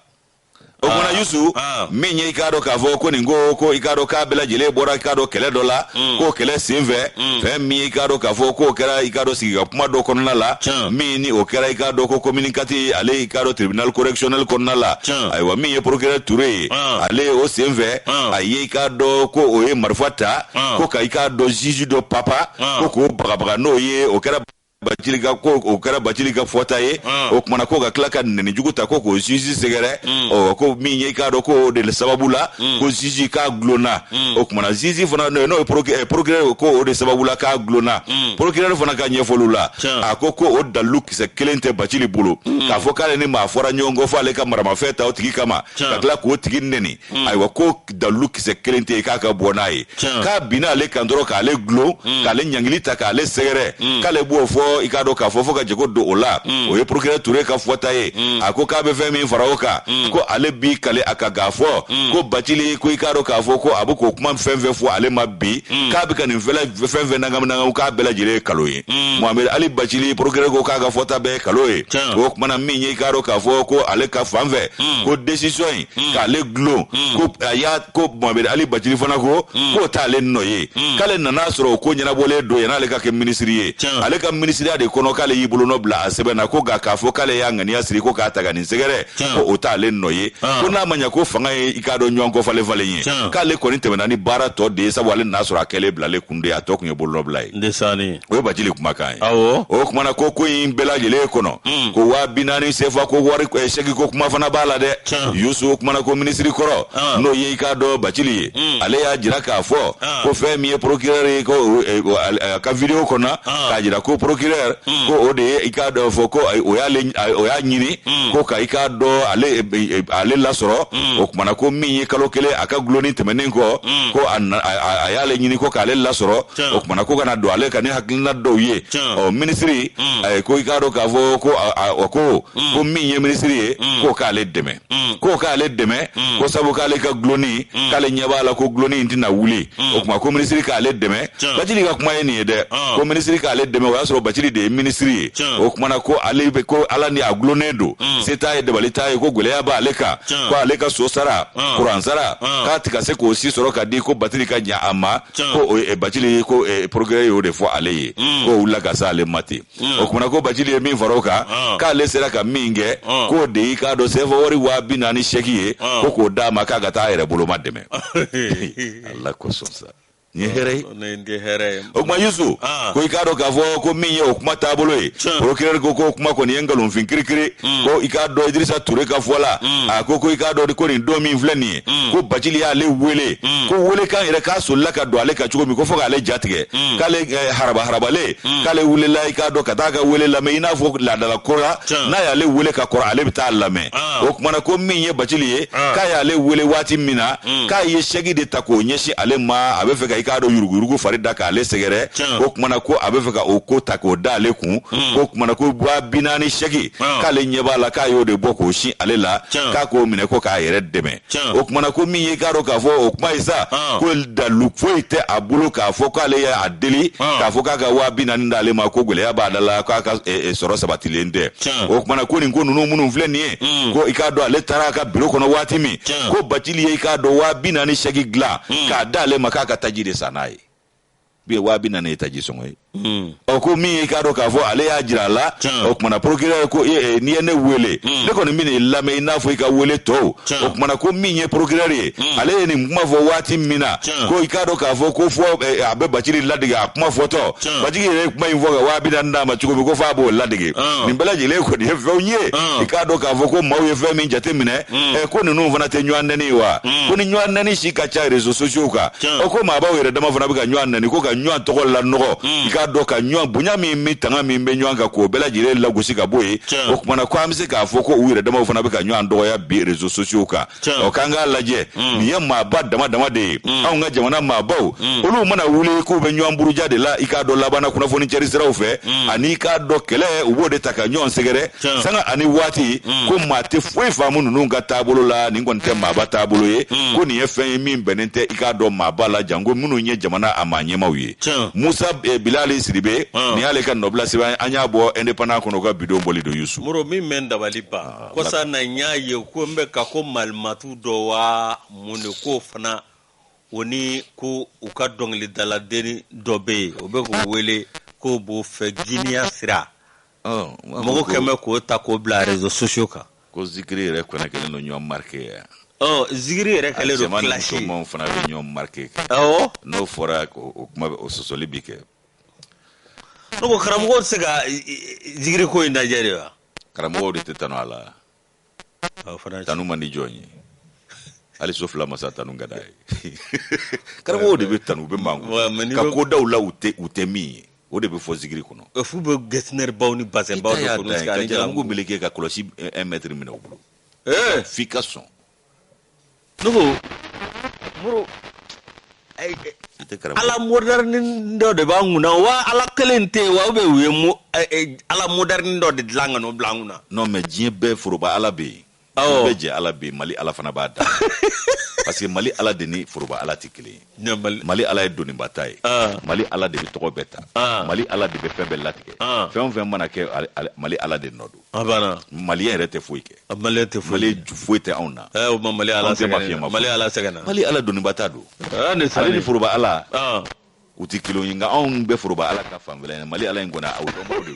o tumana yusu ah. min ye i k'a dɔn k'a fɔ ko nin ko ko i k'a dɔn k'a bɛɛ lajɛlen bɔra i k'a dɔn kɛlɛ dɔ la mm. k'o kɛlɛ sen fɛ mm. fɛn min ye i k'a dɔn k'a fɔ k'o kɛra i k'a dɔn sigi ka kuma dɔ kɔnɔna la min ni o kɛra i k'a dɔn ko komini kati ale i k'a dɔn tribunal correctionnel kɔnɔna la ayiwa min ye procureur ture ye ah. ale o sen fɛ a ye i k'a dɔn ko o ye marifa ta ko ka i k'a dɔn juge dɔ papa ko k'o bagabaga n'o ye o kɛra bacili ka ko o kɛra bacili ka fɔta ye ah. o tumana ko ka tila ka nɛni jugu ta ko k'o zizi sɛgɛrɛ hmm. ɔ ko min ye k'a dɔn k'o de sababu la hmm. ko zizi k'a gulonna hmm. o tumana zizi fana n'o ye porokirɛri eh, ko o de sababu la k'a gulonna porokirɛri fana ka ɲɛfɔliw la a ko ko o dalilu kisɛ kelen tɛ bacili bolo k'a fɔ k'ale ni maa fɔra ɲɔgɔn kɔ fɔ ale ka maramafɛn ta o tigi kama ka tila k'o tigi nɛni Hmm. ayiwa ko dalilu kisɛ kelen tɛ yen k'a ka bɔ n'a ye k'a binna ale kan dɔrɔn k'ale gulon hmm. k'ale ɲangili ta k'ale sɛgɛrɛ hmm. k'ale b'o fɔ i k'a dɔn k'a fɔ fo ka jago don o la o ye procureur ture ka fɔta ye a ko k'a bɛ fɛn min fara o kan ko ale b'i kali a kan k'a fɔ ko bacili ko i k'a dɔn k'a fɔ ko a bɛ k'o kuma fɛn fɛn fɔ ale ma bi k'a bɛ ka nin fɛn fɛn nangaminangaw k'a bɛɛ lajɛlen ye nkalon ye mohamɛdi ali bacili procureur ko k'a ka fɔta bɛɛ ye nkalon ye o kumana min ye i k'a dɔn k'a fɔ ko ale ka fan fɛ ko décision in mm. k'ale gulon mm. ko a y'a ko mohamɛdi ali bacili fana ko mm. k'o t'ale nɔ ye mm. k'ale nan'a sɔrɔ o ko ɲɛnabɔlen don yann'ale ka kɛ minisiri ye Tiens. ale ka minisiriya de kɔnɔ k'ale y'i bolonɔ bila a sɛbɛn na ko nka k'a fɔ k'ale y'a ŋaniya siri ko k'a ta ka nin sɛgɛrɛ ko o t'ale nɔ ye ah. ko n'a ma ɲa ko fanga ye i k'a dɔn ɲɔgɔn kɔ falen falen ye k'ale kɔni tɛmɛna ni baara tɔ de ye sabu ale nan'a sɔrɔ a kɛlen bilalen kun de a tɔ kun ye bolonɔbila ye ndesanni o ye bacili kumakan ye awɔ o kumana ko ko in bɛɛ lajɛlen kɔnɔ hmm. ko waa bi naani sefa ko wari eh, chèque ko kuma fana b'a la dɛ yusu o kumana ko minisiri kɔrɔ ah. n'o ye i k'a dɔn bacili ye hmm. ale y'a jira k'a fɔ ah. ko fɛn min ye procureur ye ko eh, eh, a ka video kɔnɔ ah. k'a jira ko procureur hmm. ko o de ye i k'a dɔn fɔ ko o y'a ɲini ko ka i k'a dɔn ale lasɔrɔ o kumana ko min ye kalo kelen a ka gulonni tɛmɛnen kɔ ko a y'ale ɲini ko k'ale lasɔrɔ o tumana ko ka na don ale kan ni hakilina dɔw ye ɔ minisiri mm. ko i k'a dɔn k'a fɔ ko o ko mm. ko min ye minisiri ye mm. k'o k'ale dɛmɛ k'o k'ale dɛmɛ ko sabu k'ale ka gulonni k'ale ɲɛ b'a la ko gulonni in tɛna wuli o tuma ko minisiri k'ale dɛmɛ bacili ka kuma ye nin ye dɛ ko minisiri k'ale dɛmɛ o y'a sɔrɔ bacili de ye minisiri ye o tumana ko ale bɛ ko ala ni a gulonnen don se t'a ye dabali t'a ye ko gɛlɛya b'ale kan ko ale ka so sara kuran sara k'a tɛ ka se k'o si sɔrɔ ka di ko bacili ka ɲa a ma Tiɲɛ. ko o ye- eh, bacili ko eh, procureur y'o de fɔ ale ye Mm. k'o wulila ka se ale ma ten Mm. o kumana ko bacili ye min fara o kan Ah. k'ale sera ka min kɛ Ah. k'o de y'i k'a dɔn sefa wari waa bi naani chèque ye Ah. ko k'o d'a ma k'a ka taa a yɛrɛ bolomadɛmɛ ala kosɔn sa nin ye hɛrɛ ye ne ye n tɛ hɛrɛ ye o kuma yusu Ah. ko i k'a dɔn k'a fɔ ko min ye o kuma taabolo ye Tiɲɛ. procureur ko k'o kuma kɔni ye nkalonfin kirikiri ko i k'a dɔn idirisa ture ka fɔ la a ko ko i k'a dɔn ko nin don min filɛ nin ye mm. ko bacili y'ale wele mm. ko weelekan yɛrɛ k'a solila ka don ale kan cogo min ko fo k'ale jatigɛ mm. k'ale eh, haraba harabale mm. k'ale wulila i k'a dɔn ka taa a ka weele lamɛn i n'a fɔ laada la kora n'a y'ale weele ka kɔrɔ ale bɛ taa lamɛn ah. o kumana ko min ye bacili ye ah. k'a y'ale weele waati min na mm. k'a ye chèque de ta k'o ɲɛsin ale ma a bɛ fɛ ka i k'a dɔn yuruguyurugu fari da k'ale sɛgɛrɛ o kumana ko a bɛ fɛ ka o ko ta k'o da ale kun mm. o kumana ko waa bi naani chèque k'ale ɲɛ b'a la k'a y'o de bɔ k'o sin ale la k'a k'o minɛ ko k'a yɛrɛ dɛmɛ o kuma na ko min ye i k'a dɔn k'a fɔ o kuma ye sa ko dalu foyi tɛ a bolo k'a fɔ k'ale y'a deli k'a fɔ k'a ka waa bi naani d'ale ma ko gɛlɛya b'a da la k'a ka e, e, sɔrɔ sabatilen tɛ o kuma na ko nin ko ninnu minnu filɛ nin ye mm. ko i k'a dɔn ale taara a ka biro kɔnɔ waati min ko bacili ye i k'a dɔn waa bi naani sɛki dilan mm. k'a d'ale ma k'a ka taji de san n'a ye bi ye waa bi naani ye taji sɔngɔ ye hmm. ɔ ko min i k'a dɔn k'a fɔ ale y'a jira a la o kuma na procureur ko e, n'i ye ne wele hmm. ne kɔni bɛna i lamɛn i n'a fɔ i ka wele tɔw o kuma na ko min ye procureur ye hmm. ale ye nin kuma fɔ waati min na ko i k'a dɔn k'a fɔ ko fɔ e, a bɛ bacili ladege a kuma fɔtɔ bacili yɛrɛ ye kuma in fɔ ka waa bi naani d'a ma cogo min ko f'a b'o ladege nin bɛɛ lajɛlen kɔni ye fɛnw ye i k'a dɔn k'a fɔ ko maaw ye fɛn min jate minɛ ko ninnu fana tɛ ɲɔgɔn nɛni wa ko ni ɲɔgɔn nɛni si ka ca réseaux sociaux kan o ko maabaw yɛrɛ dama fana bɛ ka ɲɔgɔn nɛni ko ka ɲɔgɔn tɔgɔ lanɔgɔ hmm. i k'a dɔn ka ɲɔgɔn bonya min min tanga min bɛ ɲɔgɔn kan k'o bɛɛ lajɛlen lagosi ka bɔ yen o kuma na ko an bɛ se k'a fɔ ko u yɛrɛ damaw fana bɛ ka ɲɔgɔn dɔgɔya bi rezo sosiyow kan ɔ k'an k'a lajɛ hmm. nin ye maaba dama dama de ye hmm. anw ka jamana maabaw olu mana wuli k'u bɛ ɲɔgɔn buruja de la i k'a dɔn labanna kunnafoni cɛri siraw fɛ ani i k'a dɔn kɛlɛ u b'o de ta ka ɲɔgɔn sɛgɛrɛ sanga ani waati mm. ko maa tɛ foyi faamu ninnu ka taabolo la nin kɔni tɛ mm. maaba taabolo ye mm. ko nin ye fɛn ye min bɛnnen tɛ i k'a dɔn maaba la janko minnu ye jamana a maa ɲɛmaw ye musa eh, bilali sidibe nin y'ale ka nɔbila sɛbɛn an y'a bɔ indépendant kɔnɔ ka bidon bɔli don yusu moro min bɛ n dabali ban ah, kɔsa na n y'a ye ko n bɛ ka ko malimatu dɔ wa mun de ko fana o ni ko u ka dɔnkilidaladenni dɔ bɛ yen o bɛ k'u wele k'o b'o fɛ giniya sira mɔgɔ kɛmɛ k'o ta k'o bila rezo sosiyo kan ko zikiri yɛrɛ fana kɛlen don ɲɔgɔn marike ye zikiri yɛrɛ kɛlen don kilasi musomanw fana bɛ ɲɔgɔn marike kɛ awɔ n'o fɔra o kuma o sɔsɔli bi kɛ ne ko karamɔgɔ tɛ se ka zikiri ko in lajɛ de wa karamɔgɔw de tɛ tanu a la tanu man di jɔn ye hali so fila masa tanu ka d'a ye karamɔgɔw de bɛ tanu u bɛ mango ka ko daw la u tɛ u tɛ min ye o de bɛ fɔ zikiri kɔnɔ f'u bɛ getzner baw ni bazɛnbaw de kɔnɔ ka jalamugu meleke ka kɔlɔsi un mètre minɛ u bolo f'i ka sɔn Nugu, muru, eh, eh, I tɛ karamɔgɔ. ala moderni dɔ de b'an kunna wa ala kelen tɛ yen wa ou bien u ye mo- eh, eh, ala moderni dɔ de dilan ka n'o bila an kunna non mais diɲɛ bɛɛ foroba ala bɛ yen Awɔ. Diɲɛ bɛɛ jɛ ala bɛ yen mali ala fana b'a da parce que mali ala de ni foroba ala tɛ kelen ye mali ala ye doniba ta ye ah. mali ala de bɛ tɔgɔ bɛɛ ta ah. mali ala de bɛ fɛn bɛɛ latigɛ ah. fɛn o fɛn mana kɛ mali ala de nɔ don mali yɛrɛ tɛ foyi kɛ mali tɛ foyi foyi tɛ anw na eh, o ma mali ala sɛgɛn mali ala sɛgɛn mali ala doniba ta don ale ni foroba ala u tɛ kelen ye nka anw bɛ foroba ala ka fan fɛla mali ala in kɔni o dɔnbaw de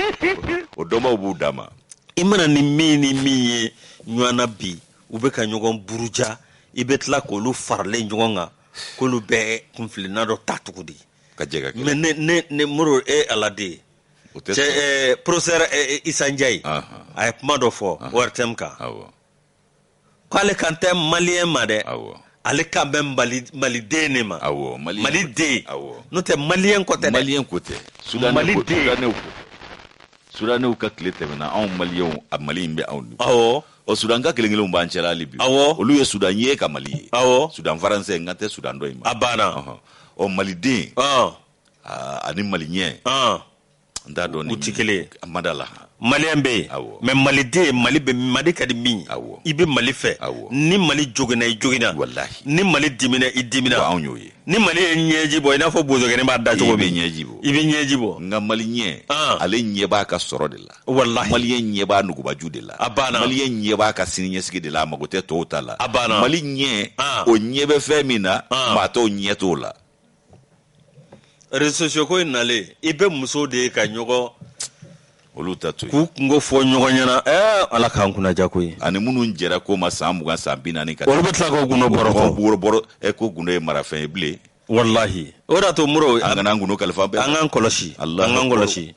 o dɔnbaw b'u dama i mana ni min ni min ye ɲɔgɔnna bi u bɛ ka ɲɔgɔn buruja i bɛ tila k' olu faralen ɲɔgɔn kan k'olu bɛɛ kunfina dɔ ta cogo di ka jɛ mɛ mori e aladen ye pɔrɔfesɛri isa njayi a ye kuma dɔ fɔ ortm kan k'ale kan tɛ mali ma dɛ ale kan bɛ maliden de ma mali mali den n'o tɛ mali ko tɛ mali ko tɛ su mali sudaninw ka tile tɛmɛna anw mali a mali in bɛ anw ɔ sudanka kelen kelenw b'an cɛla hali bi awɔ olu ye sudan ye ka mali ye awɔ sudan faransɛ n kan tɛ sudan dɔ in ma a banna ɔ maliden ani maliyɛn n t'a dɔn u tɛ kelen ye a ma da la maliyɛn bɛ yen mɛ maliden mali bɛ mali ka di min i bɛ mali fɛ ni mali joginna i joginna ni mali dimina i dimina anw y'o ye ni mali ye ɲɛji bɔ i n'a fɔ bozokɛnin b'a da cogo min ɲɛji bɔ i bɛ ɲɛji bɔ nka maliyɛn ale ɲɛ b'a ka sɔrɔ de la wallahi maliyɛn ɲɛ b'a nugubaju de la a banna maliyɛn ɲɛ b'a ka sini ɲɛsigi de la a mago tɛ tɔw ta la a banna maliyɛn ah. o ɲɛ bɛ fɛn min na ah. maa tɔw ɲɛ t'o la reso sosiyo ko in nalen i bɛ muso de ye ka ɲɔgɔn olu ta to k'u kunko fɔ ɲɔgɔn ɲɛna ɛɛ ala k'an kunna ja ko ye ani minnu jɛra koma san mugan san bi naani ka olu bɛ tila k'o gundo bɔrɔ bɔrɔ ko gundo ye marafɛn ye bilen walahi o de y'a to moro an kana an gundo kalifa bɛɛ an k'an kɔlɔsi an k'an kɔlɔsi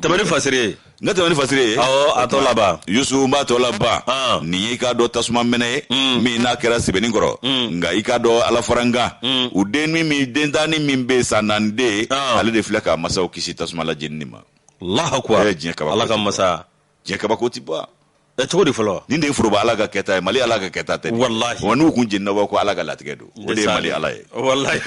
tɛmɛ ni fasiri n ka tɛmɛ ni fasiri ye awɔ a tɔ laban yusu n b'a tɔ laban ah. nin y'i k'a dɔn tasuma mɛnɛ ye mm. min n'a kɛra sebeninkɔrɔ mm. nka i k'a dɔn alafarankan mm. u den min min den tanni min bɛ san naani den ah. ale de filɛ k'a masaw kisi tasuma la jenini ma alahu akibaru eh, ala ka masa diɲɛ kabako tɛ ban ɛ cogo di fɔlɔ nin de ye foroba ala ka kɛta ye mali ala ka kɛta tɛ walahi wa n'u kun jenina a bɛ fɔ ko ala ka latigɛ don o de ye mali ala ye walahi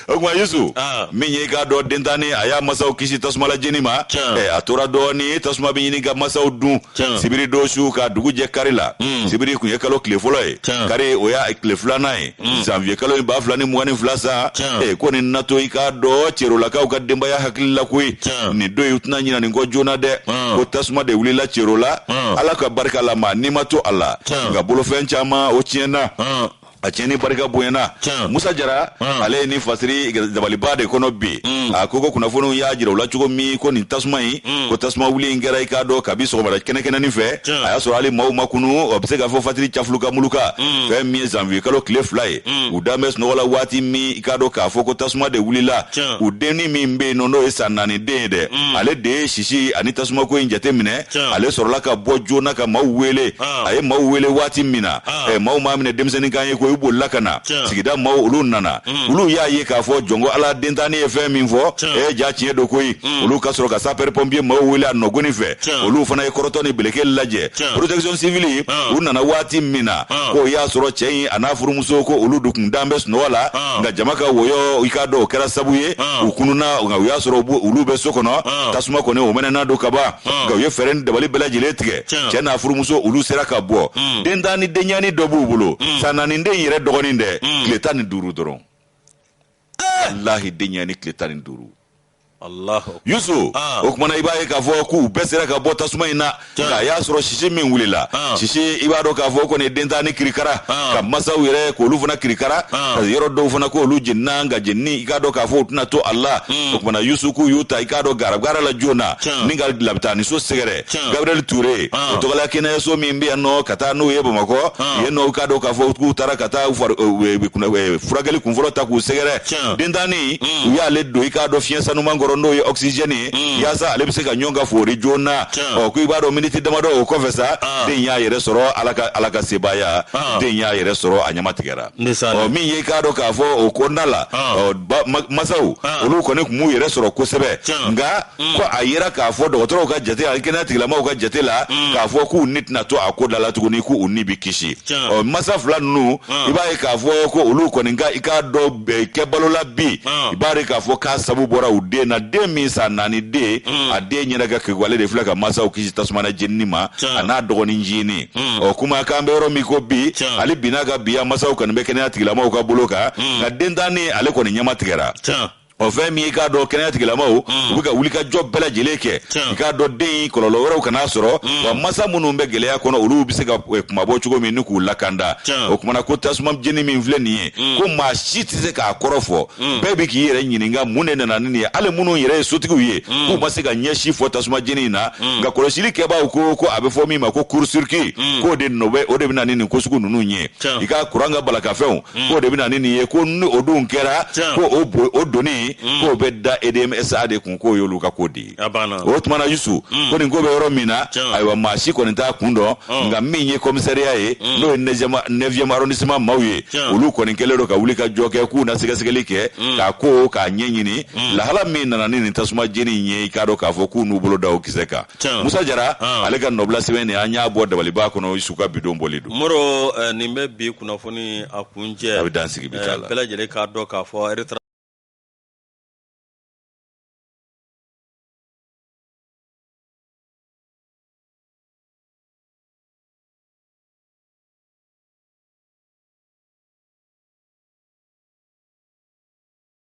o tuma yusu ah. min ye i k'a dɔn dentanni a y'a masaw kisi tasuma la jeni ma eh, a tora dɔɔni tasuma bɛ ɲini ka masaw dun sibiri don su ka dugu jɛ kari la hmm. sibiri kun ye kalo tile fɔlɔ ye kari o y'a tile filanan ye mm. zanviye kalo ye ba fila ni mugan ni fila san ko nin na to i k'a dɔn cerolakaw ka denbaya hakili la koyi nin don in u tɛna ɲina nin kɔ joona dɛ ko tasuma de wulila cerola ala ka barika la maa ni ma to a la nka bolofɛn caman o tiɲɛna a tiɲɛni barika bonyana musa jara ale ye nin fasiri dabaliba de kɔnɔ bi mm. a ko ko kunnafoniw y'a jira u la cogo min ko nin tasuma in hmm. ko tasuma wuli in kɛra i k'a dɔn kabi sɔgɔmada kɛnɛkɛnɛnin fɛ a y'a sɔrɔ hali maaw ma kunu o bɛ se ka fɔ fajiri cafuluka muluka hmm. fɛn min ye zanviye kalo tile fila ye hmm. u dalen bɛ sunɔgɔ la waati min i k'a dɔn k'a fɔ ko tasuma de wulila u dennin min bɛ yen nɔ n'o ye san naani den ye dɛ ale de ye sisi ani tasumako in jateminɛ ale sɔrɔla ka bɔ joona ka maaw wele ah. a ye maaw wele waati min na ah. eh, maaw m'a minɛ denmisɛnnin kan ye ko u bolila ka na sigida maaw olu nana mm. olu y'a ye k'a fɔ jɔnko ala dentanni ye fɛn min fɔ e jaa tiɲɛ don koyi mm. olu ka sɔrɔ ka sapeurs pompiers maaw wele a nɔgɔnin fɛ olu fana ye kɔrɔtɔ ni beleke lajɛ protection civili ah. u nana waati min na ah. k'o y'a sɔrɔ cɛ in a n'a furumuso ko olu dun kun dalen bɛ sunɔgɔ la ah. nka jama ka wɔyɔ i k'a dɔn o kɛra sabu ye u kununna nka u y'a sɔrɔ olu bɛ so kɔnɔ tasuma kɔni o mɛnɛnen don kaban nka u ye fɛɛrɛ ni dabali bɛɛ lajɛlen tigɛ cɛ n'a furumuso olu sera ka bɔ hmm. dentanni denɲɛnin dɔ b'u bolo hmm. san naani den yɛrɛ dɔgɔnin dɛ hmm. tile tan ni duuru dɔrɔn eh! walahi denɲɛnin tile tan ni duuru yusu ah. o kumana i b'a ye k'a fɔ k'u bɛɛ sera ka bɔ tasuma in na nka a y'a sɔrɔ sisi min wulila ah. sisi i b'a dɔn k'a fɔ kɔni dentanni kirikara ah. ka masaw yɛrɛ k'olu fana kirikara ka yɔrɔ dɔw fana k'olu jenina nka jenini i k'a dɔn k'a fɔ u tɛna to a la hmm. o kumana yusu k'u y'u ta i k'a dɔn garabugara la joonanin ka labitaaniso sɛgɛrɛ gabriel touré o tɔgɔla kɛnɛyaso min bɛ yan nɔ ka taa n'u ye bamakɔ yen nɔ ka dɔn k'a fɔ k'u taara ka taa furakɛli kunfɔlɔ ta k'u sɛgɛrɛ dentanni u y'ale don i k'a dɔn fiɲɛ sanuman kɔrɔ n'o ye oxygène ye yaasa ale bɛ se ka ɲɔn ka foori joona ɔ ko i b'a dɔn miniti damadɔ o kɔfɛ sa den y'a yɛrɛ sɔrɔ ala ka ala ka sebaaya den y'a yɛrɛ sɔrɔ a ɲɛma tigɛra ɔ min ye i k'a dɔn k'a fɔ o kɔnɔna la masaw olu kɔni tun m'u yɛrɛ sɔrɔ kosɛbɛ nka mm. ko a yera k'a fɔ dɔgɔtɔrɔw ka jate ani kɛnɛya tigilamaw ka jate la mm. k'a fɔ k'u ni tɛna to a ko da la tuguni k'u ni bɛ kisi ɔ masa fila ninnu mm. i b'a ye k'a fɔ ko olu kɔni ka i k'a dɔn eh, kɛ balo la bi i b'a ye k'a fɔ k'a sabu bɔra u den na den min san naani den a denɲɛnin ka kekuwale de filɛ ka masaw kisi tasuma na jenini ma a n'a dɔgɔnin jini ɔ kuma k'an bɛ yɔrɔ min ko bi hali bi in na ka bi a masaw kɔni bɛ kɛnɛya tigilamaw ka bolo kan nka dentanni ale kɔni ɲɛma tigɛra ɔ fɛn min i k'a dɔn kɛnɛya tigilamaw mm. u bɛ ka wulikajɔ bɛɛ lajɛlen kɛ i k'a dɔn den in kɔlɔlɔ wɛrɛw kana sɔrɔ mm. wa masa minnu bɛ gɛlɛya kɔnɔ olu bɛ se ka eh, kunmabɔ cogo min ani k'u lakana o kumana ko tasuma jeni min filɛ nin ye mm. ko maa si tɛ se k'a kɔrɔ fɔ bɛɛ bɛ k'i yɛrɛ ɲininka mun de nana ni nin ye hali minnu yɛrɛ ye sotigiw ye k'u ma se ka fɛn si fɔ tasuma jeni in na nka kɔlɔsili kɛbaaw ko ko a bɛ fɔ min ma ko court-circuit k'o de nɔ bɛ o de bɛ na ni nin ko sugu ninnu ye i ka kuran ka baarakɛfɛnw hmm. k'o de bɛna ni nin ye ko ni o dun kɛra ko o bo o doni hmm. k'o bɛ da edm sa de kun k'o y'olu ka ko de ye o tuma na yusu hmm. ko nin ko bɛ yɔrɔ min na ayiwa maa si kɔni t'a kun dɔn nka min ye kɔmisariya ye n'o ye neuvième arrondissement maaw ye olu kɔni kɛlen don ka wuli ka jɔ kɛ k'u na sɛgɛsɛgɛli kɛ k'a ko k'a ɲɛɲini lahala min nana ni nin tasuma jeni in ye i k'a dɔn k'a fɔ k'u n'u bolo da o kisɛ kan musa jara ah. ale ka nɔbila sɛbɛn nin an y'a bɔ dabaliba kɔnɔ su ka bidon bɔli don moro eh, nin bɛ bi kunnafoni a kuncɛ a bɛ dan sigi bi eh, la bɛɛ lajɛlen k'a dɔn k'a fɔ